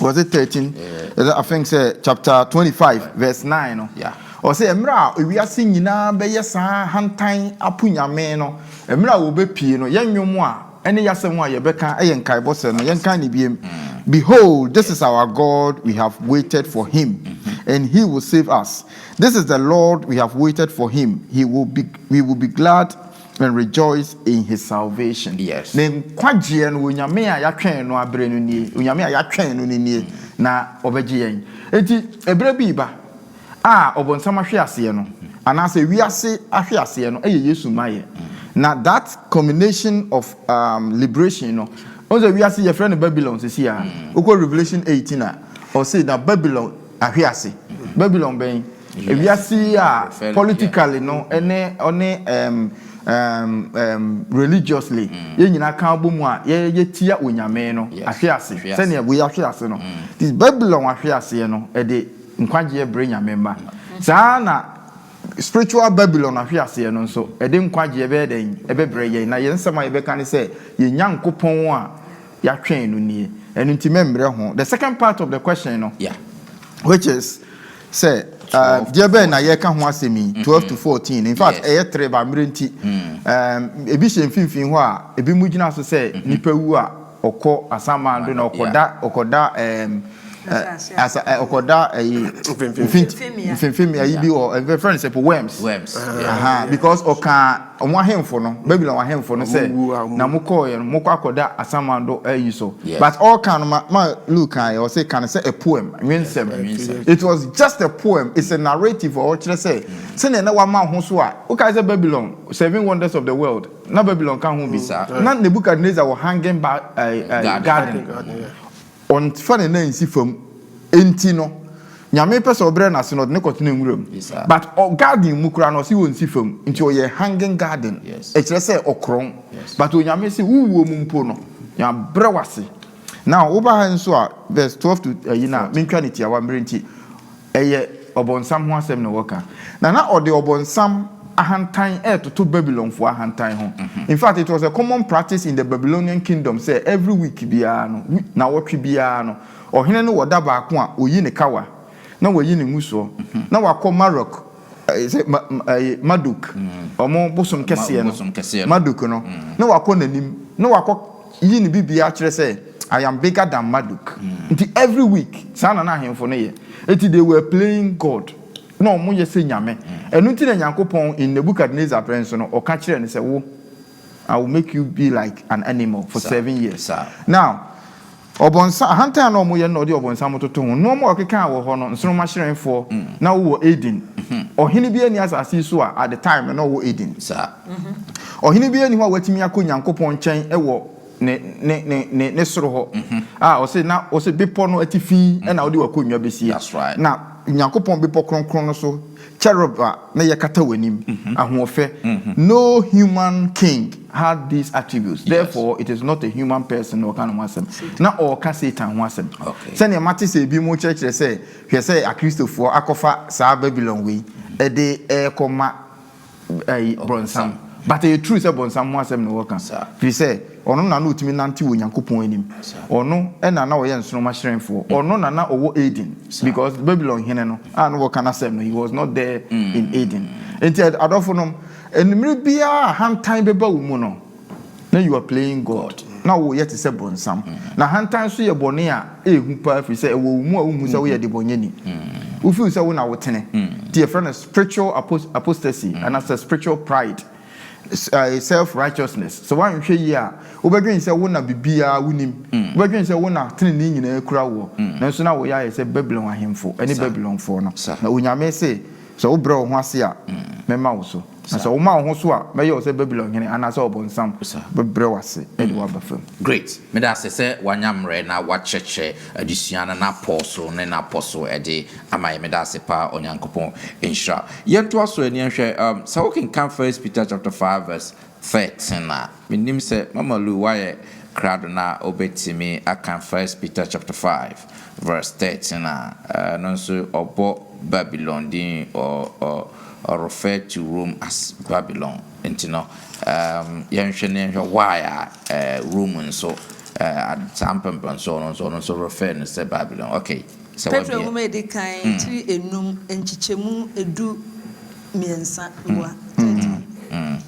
Was it thirteen? Yeah. I think say chapter twenty five yeah. verse nine no. Yeah. Ɔsɛ mmerɛ a ewiase nyinaa bɛyɛ saa hantan apo nyame no mmerɛ a wɔbɛpie no yɛn nnwom a ɛne yɛasɛm a yɛbɛka ɛyɛ nkaebɔ sɛ no yɛnka ne biem. Mm. Behold, this is our God, we have waited for him, mm-hmm. and he will save us. This is the Lord, we have waited for him, he will be, we will be glad And rejoice in his salvation. Yes. Ne nkwagyeɛ no, Onyame a yɛatwɛn no aberɛ no nie. Onyame a yɛatwɛn no no nie, na ɔbɛgye yɛn. Enti, ɛberɛ bi reba a ɔbonsam ahwe aseɛ no, anaasɛ wiase ahwe aseɛ no, ɛyɛ Yesu mmaeɛ. Na that culmination of um, liberation no, ɔn sɛ wiase yɛfrɛ no Babylon sisi a, wokɔ Revelation 18 a, ɔse na Babylon Ahwe ase. Babylon bɛn? Wiase yi a politically no ne ɔne ɛɛm ɛɛm ɛɛm religiously yɛn nyinaa ka bɔ mu a yɛ yɛtia Onyame no ahwe ase sɛdeɛ wei ahwe ase no. Nti Babylon ahwe aseɛ no ɛde nkwagyeɛ brɛ Nyame mma. Saa ara na spiritual Babylon ahwe aseɛ no nso ɛde nkwagyeɛ bɛyɛ dɛn ɛbɛbrɛ yɛn. Na yɛn nsɛm a yɛbɛka ne sɛ yɛn Nyankopɔn a Yatwɛn no nie ɛno nti mɛmmerɛ ho the second part of the question no which is sɛ deɛ bɛn na yɛka ho asɛm yi twelve to fourteen in fact ɛyɛ three ba mmerɛ nti ebi hyɛ mfimfini hɔ a ebi mu gyina so sɛ nipa wu a ɔkɔ asaman do na ɔkɔda ɔkɔda ɛɛm asa ɔkɔda ɛyi mfimfini ayi bi wɔ ɛfɛ fɛn sɛ po worms aha because ɔka. Wɔn ahemfo no, Babylon ahemfo no sɛ na mo kɔɔ yɛ no mo kɔ akɔ da asaman do ayi so but ɔɔ kan no ma ma Luke kan yɛ ɔsɛ kan sɛ a poem nwensɛm it was just a poem it's a narrative a ɔkyerɛ sɛ sɛnea na wama ho so a wo kae sɛ Babylon seven wonders of the world na Babylon ka ho bi saa na Nebuchadnezzar wɔ hanging ba ɛɛ garden. Ɔmfa ne nan nsi fam nti no Nyame pɛ sɛ ɔbrɛ no ase na ɔde no kɔtena nwura mu but garden mu koraa no ɔse ɔnsi fam nti ɔyɛ hanging garden ɛkyerɛ sɛ ɔkorɔn but Onyame se wo wuo mu mpo no Mabrɛ wo ase now woba ha nso a verse twelve to ayi no a mentwa no tiawa mmerɛ nti Ɛyɛ Ɔbonsam ho asɛm na wɔka, na na ɔde Ɔbonsam ahantan retoto Babilonfo ahantan ho. In fact, it was a common practice in the Babylonian Kingdom sɛ every week biara no, nnawɔtwe biara no, ɔhene no wɔ da baako a oyi ne kawa, na wayi ne ngusoɔ, na wakɔ Marok Ɛyɛ sɛ ma ɛyɛ Marduk, wɔn bosom kɛseɛ no, Marduk no, na wakɔ n'anim, na wakɔ yi ne biribiara akyerɛ sɛ, I am bigger than Marduk. Nti every week, saa na na ahemfo no yɛ. Nti they were playing God, na wɔn yɛ sɛ nyame. Ɛno nti na Nyankopɔn in Nebuchadnezzar berɛ nso no, ɔka kyerɛɛ no sɛ, wo, I will make you be like an animal for seven years. Now, Ɔbɔnsa, ahantan a na wɔyɛ no na wɔde ɔbɔnsam toto ho. Nnoɔma a ɔkeka a wɔ hɔ no, nsorommahyerɛnfoɔ na wowɔ Eden. Ɔhene biara nni asase yi so a at the time no na ɔwɔ Eden. Ɔhene biara nni hɔ a watumi akɔ Nyankopɔn nkyɛn wɔ ne, ne, ne, ne, ne soro hɔ a ɔse na, ɔse bepɔ no atifi na wode w'akonnwa bɛsie. That's right. Na Nyankopɔn bepɔ kronkron no so Cherub a na yɛkata w'anim, ahoɔfɛ, No human king had these attributes, therefore it is not a human person na ɔreka ne ho asɛm. Ná ɔreka Satan ho asɛm. Sɛnea mate sɛ ebinom rekyerɛkyerɛ sɛ hwɛ sɛ Akristofoɔ akɔfa saa Babilon wei de rekɔma ɛyi brɔnsam but ɛyɛ true sɛ bɔnsam ho asɛm na wɔka firi sɛ ɔno na na ɔtumi nante wɔ onyankopɔn anim ɔno ɛna na ɔyɛ nsoroma hyerɛnfoɔ ɔno na na ɔwɔ Eden because Babylon hene no a na wɔka n'asɛm no he was not there mm. in Eden nti adɔfo nom mmere biara ahantan bɛba wo mu no Na you are playing God, na woreyɛ te sɛ bonsam. Na ahantan nso yɛ bɔne a ɛyɛ hu paa ɛfiri sɛ ɛwɔ wo mu a wonhu sɛ woyɛ debɔnyɛni. Wo feel sɛ wo na wo tene. Nti yɛfrɛ no spiritual apostasy anaasɛ spiritual pride, self righteousness. Sɛ woanhwɛ yie a wobɛdwene sɛ wo na biribiara wonim, wobɛdwene sɛ wo na tenenee nyinaa kura woɔ. Nanso na woreyɛ ayɛ sɛ Babilon ahemfo ne Babilonfoɔ no. Na Onyame se, sɛ wobrɛ wo ho ase a, mɛma wo so. Na sɛ woma wo ho so a, mɛyɛ wo sɛ Babilon hene anaasɛ ɔbonsam bɛbrɛ wo ase de wo aba fam. Great! Meda ase sɛ wanya mmerɛ na wakyerɛkyerɛ adesua no n'apɔw so ne n'apɔ so de ama yɛn. Meda ase paa, Onyankopɔn nhyira wo. Yɛntoa so ani nhwɛ, um, sɛ wokenkan First Peter chapter five verse thirteen a, mennim sɛ Mama Lu wayɛ krado na obetumi aka First Peter chapter five. Verse thirteen a, ɛno nso ɔbɔ Babylon din, ɔ ɔ ɔrefer to Rome as Babylon. Nti no, ɛɛm yɛnhwɛ na yɛnhwɛ why a ɛɛ Rome nso ɛɛ saa mpɛmpɛnsoɔ no nso ɔno nso refer no sɛ Babylon. Okay, sɛ Petro wabie. Nwoma a Ɛdi Kan, tiri enum, nkyekyɛmu du mmiɛnsa, Mboa thirteen.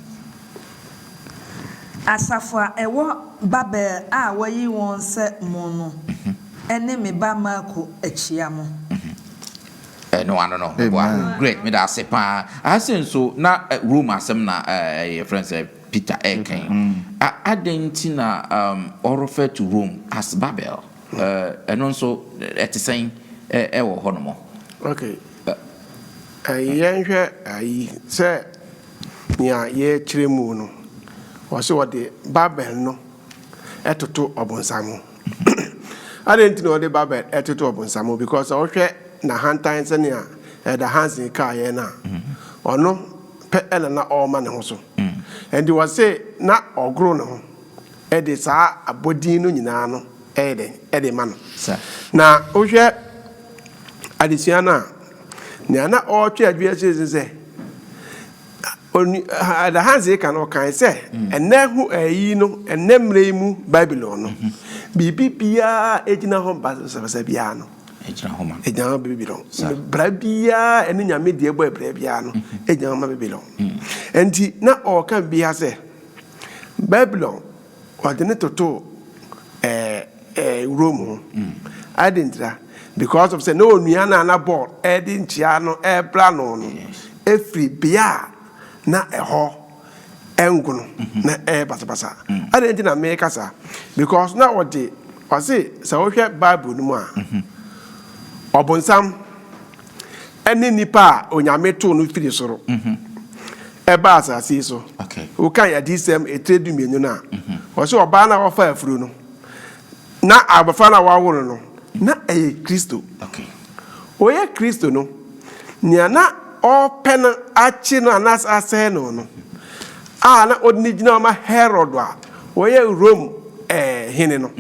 Asafo a ɛwɔ Babel a wɔayi wɔn sɛ mo no ne me ba Marko kyia mo. Ɛno ano no, meboa. Greg, meda ase paa. Aha sei nso, na Rome asɛm na yɛfrɛ no sɛ Peter reka yi. Adɛn nti na ɔ refer to Rome as Babel? Ɛno nso, ɛte sɛn wɔ hɔnom? Okay, yɛnhwɛ ayi sɛ. Nea yɛrekyerɛ mu no, ɔse ɔde Babel no toto ɔbonsam ho. Adɛn nti na ɔde Babel toto ɔbonsam ho? Because sɛ wohwɛ n'ahantan sɛnea Elder Hansen kaeɛ no a, ɔno pɛ na na ɔrema ne ho so. Ɛnti ɔse na ɔgoro ne ho de saa abɔdin no nyinaa no yɛ dɛn? De ma no. Na wohwɛ adesua no a, Nea na ɔretwe adwene akyerɛ ne sɛ, Ɛda Hans reka no, ɔkae sɛ, Ɛnnɛ ho ayi no, ɛnnɛ mmerɛ yi mu Babilon no, biribi biara a ɛgyina hɔ basabasa biara no, ɛgyina hɔ ma Babilon. Bra biara a ɛne nyame deɛ bɔ abira biara no, ɛgyina hɔ ma Babilon. Enti na ɔreka biribi ha sɛ, Babilon. Ɔde no totoo ɛɛ ɛɛ wurom ho. Adi ntira because of sɛ na onua no a na bɔɔl ɛredi nkyia no ɛrebra no no efiri bea a na ɛhɔ ɛngono na ɛyɛ basabasa. Adɛn nti na meka saa? Because na ɔde ɔse sɛ wohwɛ bible no mu a ɔbonsam. ɛne nipa a Onyame too no firi soro ɛbaa asase yi so. Wokan Adiyisɛm etire dumienu no a, ɔse ɔbaa no a wɔfa afuro no na abɔfra no a wɔawo no no na ɛyɛ Kristo. Ɔyɛ Kristo no, nea na ɔrepɛ no akye no anaasɛ asɛe no no a na ɔde no gyina hɔ ma Herod a ɔyɛ Rome hene no,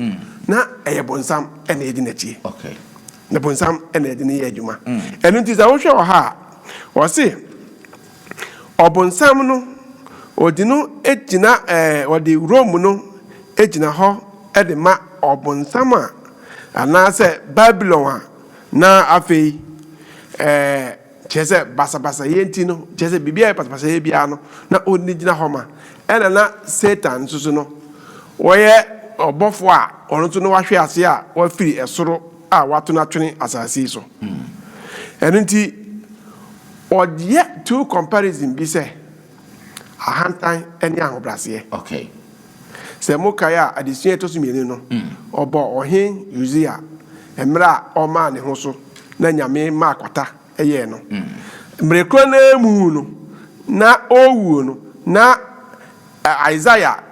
na ɛyɛ bonsam na ɛdi n'akyi. Na bonsam na ɛde no yɛ adwuma. Ɛno nti sɛ wohwɛ wɔ ha a, ɔse ɔbonsam no ɔdi no gyina ɛɛ ɔde Rome no gyina hɔ de ma ɔbonsam a anaasɛ Babylon a na afei ɛɛ. Kyerɛ sɛ, basabasayɛ nti no, kyerɛ sɛ, biribi a ɛyɛ basabasayɛ biara no, na ɔnni gyina hɔ ma. Ɛnna na Satan nso so no, ɔyɛ ɔbɔfoɔ a ɔno nso na wahwe ase a wafiri soro a wato no atwene asase yi so. Ɛno nti, ɔyɛ two comparison bi sɛ, ahantan ne ahobrɛaseɛ. Okay. Sɛ mokae a, adesua a ɛtɔ so mmienu no, ɔbɔɔ Ɔhene Usia mmerɛ a ɔmaa ne ho so na Nyame maa kwata yɛɛ no. Mmerɛ korɔ no ara mu no, na ɔrewuo no, na Isaiah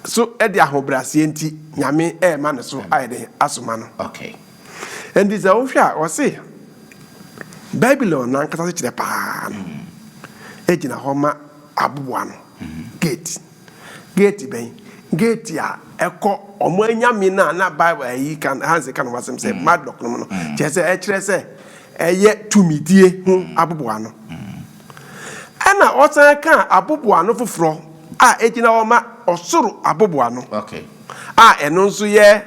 nso de ahobrɛaseɛ nti, Nyame rema ne so ayɛ dɛn? Asoma no. Ɛnti sɛ wohwɛ a, wɔse Babylon no ankasa sekyerɛ paa no gyina hɔ ma aboboano, gate. Geeti bɛn? Geeti a ɛkɔ wɔn anyame no a na Bible ayi ka no, Hans ka no ho asɛm sɛ mm. Marduk no mu no. Mm. Kyerɛ sɛ ɛkyerɛ sɛ ɛyɛ tumidie ho mm. aboboano. Ɛna ɔsan ka aboboano foforɔ a egyina hɔ ma ɔsoro aboboano. Okay. A ɛno nso yɛ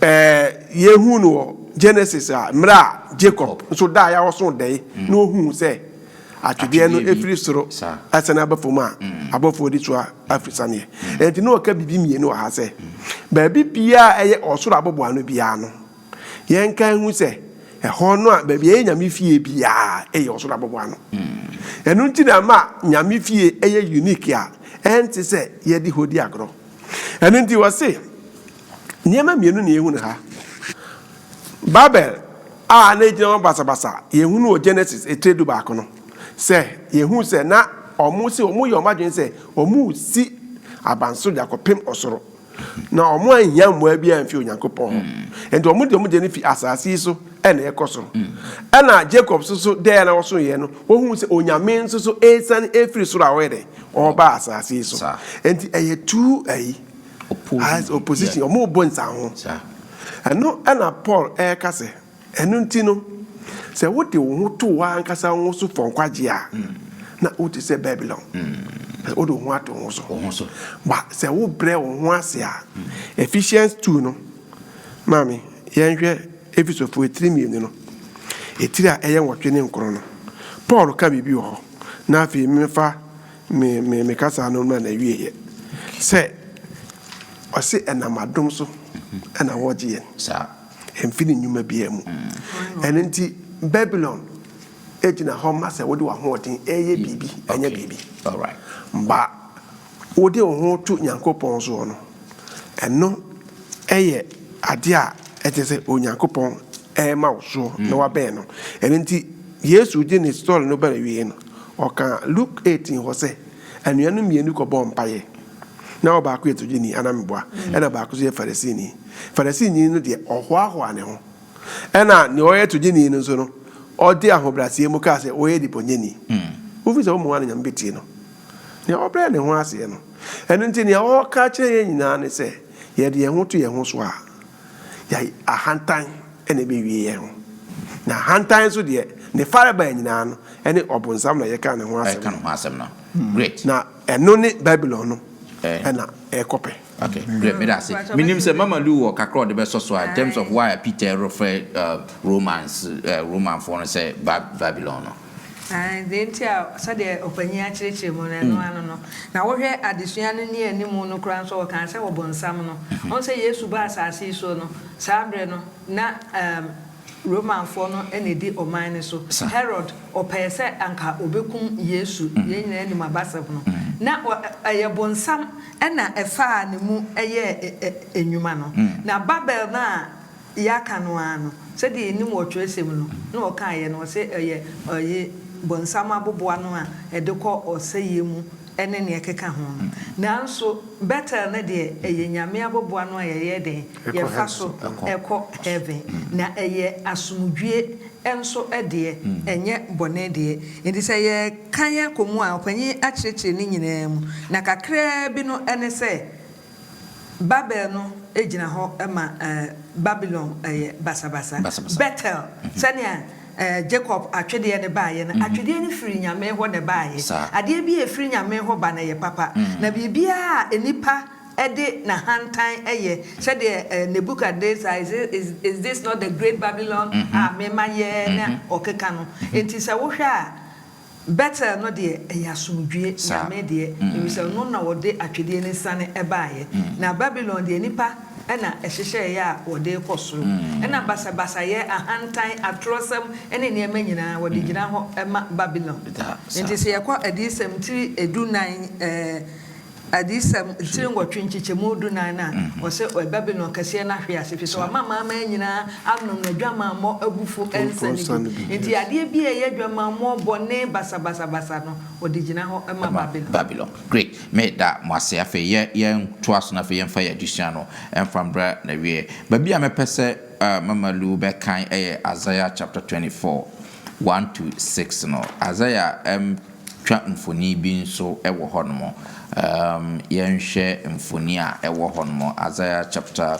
ɛɛ yehu no wɔ Genesis a mmerɛ a Jacob nso daa yɛ a ɔso dɛɛ na ohun sɛ. atwedeɛ no firi soro sane aba fam a, abɔfoɔ di so afiri saneɛ. Enti na ɔka biribi mmienu wɔ ha sɛ, baabi biara a ɛyɛ ɔsoro aboboano biara no, yɛnka nhu sɛ ɛhɔ no a baabi a ɛyɛ Nyame fie biara ɛyɛ ɔsoro aboboano. Ɛno nti na ama Nyame fie ɛyɛ unique a ɛnte sɛ yɛde hɔ di agorɔ. Ɛno nti ɔse, Nneɛma mmienu na yɛhu no ha. Babel a na egyina hɔ basabasa, yɛhu no wɔ Genesis etire du baako no, sɛ yɛhu sɛ na wɔn sɛ wɔyɛ wɔn adwene sɛ wɔresi abansoro de akɔpem ɔsoro, na wɔanhia mmoa biara mfi Onyankopɔn hɔ. Nti wɔn de wɔn deɛ no fi asase yi so na ɛkɔ soro. Ɛna Jacob nso so dɛɛ na wɔso yɛ no, wɔhu sɛ Onyame nso so ɛresane ɛfiri soro a ɔyɛ dɛn, ɔreba asase yi so. Nti ɛyɛ two ayi. As opposition, wɔn rebɔ nsanho. Ɛno na Paul reka sɛ, ɛno nti no, sɛ wode wo ho to w'ankasa wo ho so fɔ nkwagye a, na wote sɛ Babilon. Sɛ wode wo ho ato wo ho so. Ba sɛ wobrɛ wo ho ase a, Ephesians two no, maame, yɛnhwɛ Efesofo etiri mmienu no, etiri a ɛyɛ nwɔtwe ne nkron no. Paul ka biribi wɔ hɔ, na afei mefa Me, me, me kasa no na na wie yɛ. Sɛ, ɔse ɛnam adom so ɛna mm-hmm. wɔgye yɛn. Saa. Ɛmfi ne nnwuma biara mu. Mm. Ɛno nti, Babylon egyina hɔ ma sɛ wode w'ahoɔden ɛyɛ mm. biribi, ɛnyɛ biribi. Ba, wode wo ho to Nyankopɔn soɔ no, ɛno ɛyɛ adeɛ a ɛkyɛ sɛ Onyankopɔn ɛrema wo soɔ na mm. wabɛn no. Ɛno nti, Yesu gye ne story no bɛrɛ wie no, Ɔka Luk eighteen hɔ sɛ, Anuanom mmienu kɔbɔɔ mpaeɛ. Na ɔbaako yɛ togyeni, anameboa, ɛna ɔbaako nso yɛ Farisini. Farisini no deɛ, ɔhoahoaa ne ho. Ɛna deɛ ɔyɛ togyeni no nso no, ɔde ahobrɛaseɛ mu kaa sɛ, Woyɛ debɔneyɛni. Wofiri sɛ wommua no, Nyame bɛtie no. Deɛ ɔbrɛ ne ho aseɛ no. Ɛno nti deɛ ɔreka akyerɛ yɛn nyinaa ne sɛ, yɛde yɛn ho to yɛn ho so a, Yɛn ahantan na ɛbɛwie yɛn ho. Na ahantan nso deɛ, ne farebae nyinaa no, ɛne ɔbonsam na yɛka ne ho asɛm no. Na ɛno ne Babilon no na ɛrekɔpɛ. Okay, great, meda ase. Menim sɛ Mama Lu wɔ kakra a ɔde bɛsɔ so a, in terms of why a Peter refrɛ Romans, Romanfoɔ no sɛ Babilon no. Aane, deɛ nti a sɛdeɛ ɔpanin akyerɛkyerɛ mu no, ɛno ara no. Na wohwɛ adesua no nni anim no koraa nso a, ɔkaa sɛ ɔbonsam no. Woahu sɛ Yesu baa asase yi soɔ no, saa berɛ no, na ɛɛm, Romanfoɔ no na ɛdi ɔman no so. Herod, ɔpɛɛ sɛ anka ɔbɛkum Yesu, yɛn nyinaa nim abasɛm no. Na ɔ, ɛ, ɛyɛ bonsam na ɛfaa ne mu yɛɛ ɛ, ɛ, nnwuma no. Na Babel no a. Yɛaka no ara no, sɛdeɛ yɛnim wɔ twerɛsɛm no, na ɔkaeɛ no, ɔse ɛyɛ ɔye bonsam aboboa no a ɛde kɔ ɔsɛeɛ mu ne nea ɛkeka ho no. Nanso Bethel no deɛ, ɛyɛ Nyame aboboa no a yɛyɛ dɛn? Yɛfa so kɔ Heaven. Na ɛyɛ asomdwie nso deɛ, ɛnyɛ bɔne deɛ. Enti sɛ yɛrekan akɔ mu a, ɔpanin akyerɛkyerɛ ne nyinaa mu, na kakraa bi no ne sɛ, Babel no gyina hɔ ma Babilon yɛ basabasa. Bethel, sɛnea Jacob atwedeɛ no baeɛ no, atwedeɛ no firi Nyame hɔ na ɛbaeɛ. Adeɛ bi a ɛfiri Nyame hɔ ba no, ɛyɛ papa. Na biribiara a nnipa de n'ahantan yɛ, sɛdeɛ Nebuchadnezzar, Is this, is this not the great Babylon a me ma yɛɛ? na ɔkeka no. Enti sɛ wohwɛ a, Bethel no deɛ ɛyɛ asomdwie nyame deɛ efisɛ ɔno na ɔde atwedeɛ no siane baeɛ, na Babilon deɛ nnipa na ɛhyehyɛeɛ a wɔde rekɔ soro. Ɛnna basabasayɛ, ahantan, atorɔsɛm ne nneɛma nyinaa, wɔde gyina hɔ ma Babilon. Enti sɛ yɛkɔ Adiyisɛm ti du nnan, ɛɛ. Adiyisɛm ntire nwɔtwe nkyekyɛmu dunan no a wɔse ɔyɛ Babilon Kɛseɛ no ahwe ase efisɛ wama amanaman nyinaa anom n'adwamammɔ abufuo nsa no bi. Enti adeɛ biara a ɛyɛ adwamammɔ, bɔne, basabasabasa no, wɔde gyina hɔ ma Babilon. Babilon. Great. Me da mo ase. Afei yɛ yɛn toa so na afei yɛmfa yɛn adesua no mfa mbra n'awieɛ. Baabi a mɛpɛ sɛ Mama Lu bɛ kan ɛyɛ Isaiah chapter 24, 1 to 6 no. Isaiah ɛm. Twa mfoni bi nso wɔ hɔnom. Yɛnhwɛ mfoni a ɛwɔ hɔnom, Isaiah chapter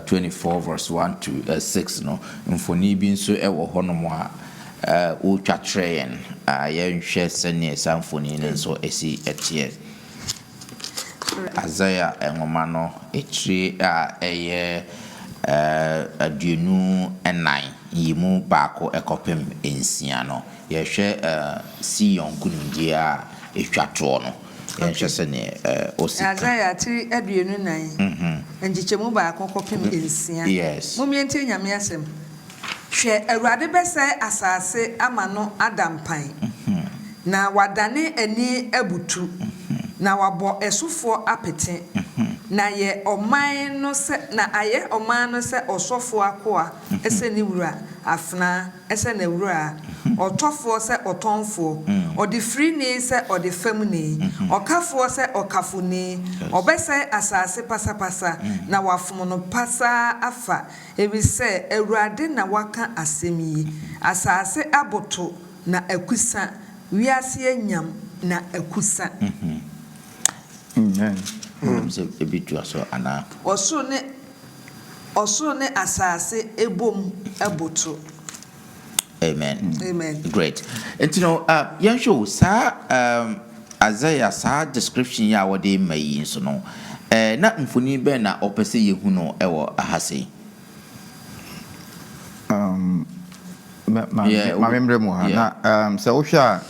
twenty four verse one to six no. Mfoni bi nso wɔ hɔnom a wotwa kyerɛ yɛn. Yɛnhwɛ sɛnea saa mfoni no nso si teɛ. Isaiah nwoma no tire a ɛyɛ aduonu nnan, yi mu baako kɔpem nsia no, Yɛhwɛ Sion nkonimdie a ɛtwa toɔ no, yɛnhwɛ sɛdeɛ ɔsi kan. Isaia tiri aduonu nan, nkyekyɛmu baako kɔpem nsia. Mommie ntie Nyame asɛm, Hwɛ, Awurade bɛsɛe asase ama no ada mpan, na wadane ani abutu, na wabɔ ɛsofoɔ apete, na ayɛ ɔman no sɛ ɔsɔfoɔ akoa. sɛ ne wura, afenaa sɛ n'awuraa, ɔtɔfoɔ sɛ ɔtɔnfoɔ, ɔdefirini sɛ ɔdefamni, ɔkafoɔ sɛ ɔkafoni, ɔbɛsɛe asase pasapasa, na wɔafom no pasaa afa, ɛfisɛ Awurade na waka asɛm yi, Asase aboto na akusa, wiase anyam na akusa. Ɔsoro ne Ɔsoro ne asase bom boto. Amen. Amen. Great. Nti no, uh, yɛnhwɛ o, saa um, Isaiah saa description yi a wɔde ma yi nso no, eh, na mfoni bɛn na ɔpɛ sɛ yɛhu no wɔ ha sei? Um, Maame mmerɛ mu ha na sɛ wohwɛ a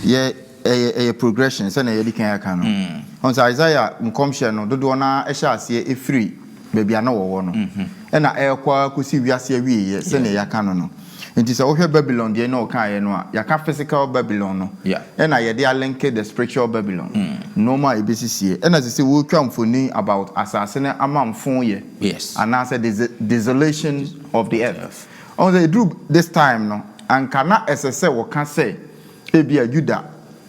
yɛ ɛyɛ ɛyɛ progression sɛnea yɛde kan aka no mm. ɔn sɛ Isaiah nkɔmhyɛ no dodoɔ no ɛhyɛ aseɛ ɛfiri baabi a na wɔwɔ no mm-hmm. ɛna ɛrekɔ akɔsi wiase awieɛ sɛnea yɛaka no no nti sɛ wohwɛ Babylon deɛ na ɔkaeɛ no a yɛaka physical Babylon no ɛna yɛde alenke the spiritual Babylon mm. nnoɔma a ɛbɛsisie ɛna sɛ sɛ wotwa mfoni about asase no amamfo yɛ anaasɛ desolation of the earth Ɔho sɛ ɛduru this time no, anka na ɛsɛ sɛ wɔka sɛ ebia Juda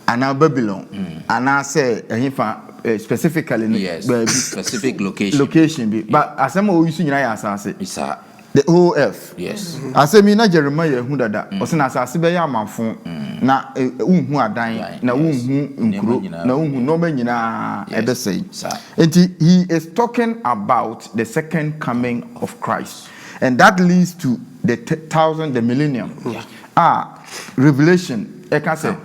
anaa Babylon anaa sɛ ɛhefa specifically no baabi, location bi, but asɛm a ɔuse nyinaa yɛ asase, the whole earth. Asɛm yi na Jeremiah ahu dada, ɔse na asase bɛyɛ amafo na wonhu adan na wonhu nkuro na wonhu nnoɔma nyinaa ɛbɛsɛe. Nti he is talking about the second coming of Christ. And that leads to the thousand, the millennium a Revelation ɛka sɛ,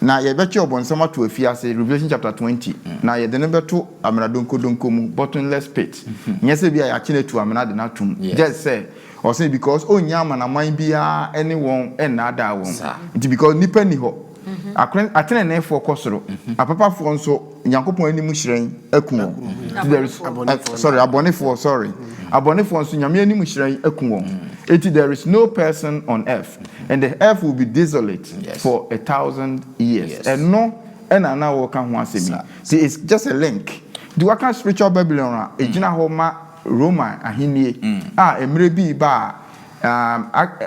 Na yɛbɛtwe ɔbonsam ato afiase, Revelation chapter twenty, na yɛde no bɛto amena donkɔdonkɔ mu, bottomless pit. Nyɛ sɛ ebia yɛakye no atu amena de no ato mu, just sɛ ɔse because ɔnnya amanaman biara ne wɔn nnaadaa wɔn nti, because nnipa nni hɔ. Ateneneefoɔ kɔ soro, apapafoɔ nso Nyankopɔn anim hyerɛn aku wɔn. Sorry, abɔnefoɔ, sorry. Abɔnefoɔ nso Nyame anim hyerɛn aku wɔn. Enti there is no person on earth and the earth will be desolate for a thousand years. Ɛno na na wɔreka ho asɛm yi. Nti it's just a link. Nti wɔka spiritual Babylon a, ɛgyina hɔ ma Roman ahennie a mmerɛ bi reba a Na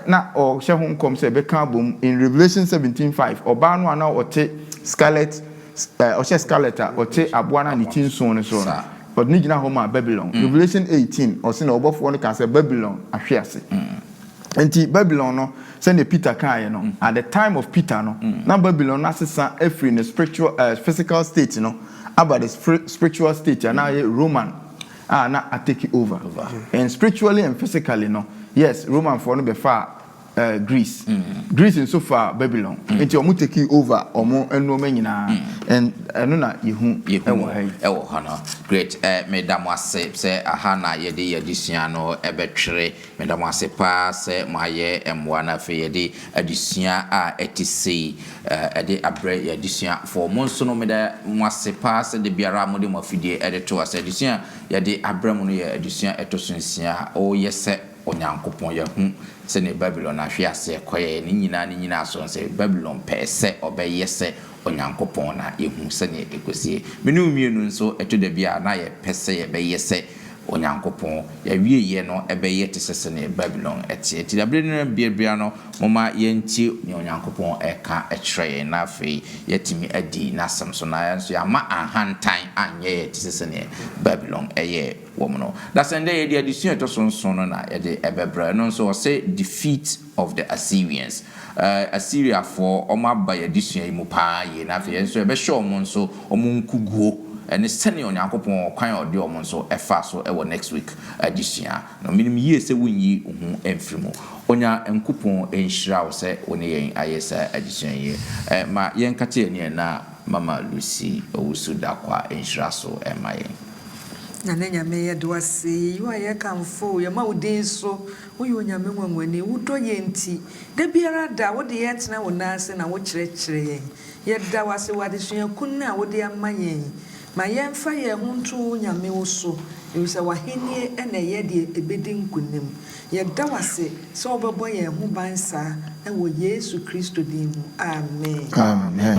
na ɔhyɛ ho nkɔm sɛ ɛbɛka abom. In Revelation seventeen five, ɔbaa no a na ɔte scarlet, eh, ɔhyɛ scarlet a ɔte aboa no a ne ti nson no so no, ɔde no gyina hɔ maa Babylon. Revelation eighteen, ɔse na ɔbɔfoɔ no kaa sɛ Babylon ahwe ase. Enti Babylon no, sɛdeɛ Peter kaeɛ no, at the time of Peter no, na Babylon no asesa afiri ne spiritual, eh, physical state no aba the spiritual state a na ayɛ Roman. a na a take over and spiritually and physically no yes Roman foɔ no bɛ faa eh, Greece Greece nso faa Babylon nti wɔn take over wɔn nnoɔma nyinaa and ɛno na yɛhu yɛhu ɛwɔ ha yi. ɛwɔ hɔ no great eh, meda mo ase sɛ aha na yɛde yɛn adesua no ɛbɛtwere Meda mo ase paa sɛ moayɛ mmoa na afei yɛde adesua a ɛte sei de abrɛ yɛn adesuafoɔ. Mo nso no, meda mo ase paa sɛ da biara a mode mo afidie de to ase. Adesua a yɛde abrɛ mo no yɛ adesua a ɛtɔ so nsia. O yɛ sɛ Onyankopɔn, yɛahu sɛdeɛ Babilon ahwe aseɛ kɔeɛ. Ne nyinaa ne nnyinasoɔ no sɛ Babilon pɛɛ sɛ ɔbɛyɛ sɛ Onyankopɔn na yehu sɛnea ekosi. Me ne wo mmienu nso, ɛtɔ da bi a na yɛpɛ sɛ yɛbɛyɛ sɛ Onyankopɔn. Yɛawieyɛ no, ɛbɛyɛ te sɛ sɛnea Babilon teɛ. Enti da bere no bere biara no, momma yɛntie nea Onyankopɔn reka kyerɛ yɛn, na afei yɛatumi adi n'asɛm so, na yɛn nso yɛamma ahantan anyɛ yɛn te sɛ sɛnea Babilon yɛɛ wɔn no. Dasɛn dɛ yɛde adesua a ɛtɔ so nson no na yɛde bɛbrɛ. Ɛno nso ɔse Defeat. of the Assyrians eh, Asiriafoɔ wɔn aba yɛn adesua yi mu paa yie, na afei yɛn nso yɛbɛhyɛ wɔn nso wɔn nkuguo ne sɛdeɛ Onyankopɔn wɔ kwan a ɔde wɔn nso fa so wɔ next week adesua no. Menim yie sɛ wonyi wo ho mfiri mu. Onyankopɔn nhyira wo sɛ wo ne yɛn ayɛ saa adesua yi. Eh, ma yɛnkate yɛn ani ɛ na Mama Lucy Owusu Darkwa nhyira so mma yɛn. Nyame Nyame yɛda wo ase, yɛyi wo ayɛ kamfo, yɛma wo din so. Woyɛ Onyame nwanwani, wo dɔ yɛn nti. Da biara da a wode yɛn tena wo nan ase na wokyerɛkyerɛ yɛn. Yɛda wo ase wɔ adesua kun a wode ama yɛn yi. Ma yɛmfa yɛn ho nto wo Nyame wo so, efisɛ w'ahenni na ɛyɛ deɛ ɛbɛdi nkonim. Yɛda wo ase sɛ wobɛbɔ yɛn ho ban saa, ɛwɔ Yesu Kristo din mu, amen. Amen.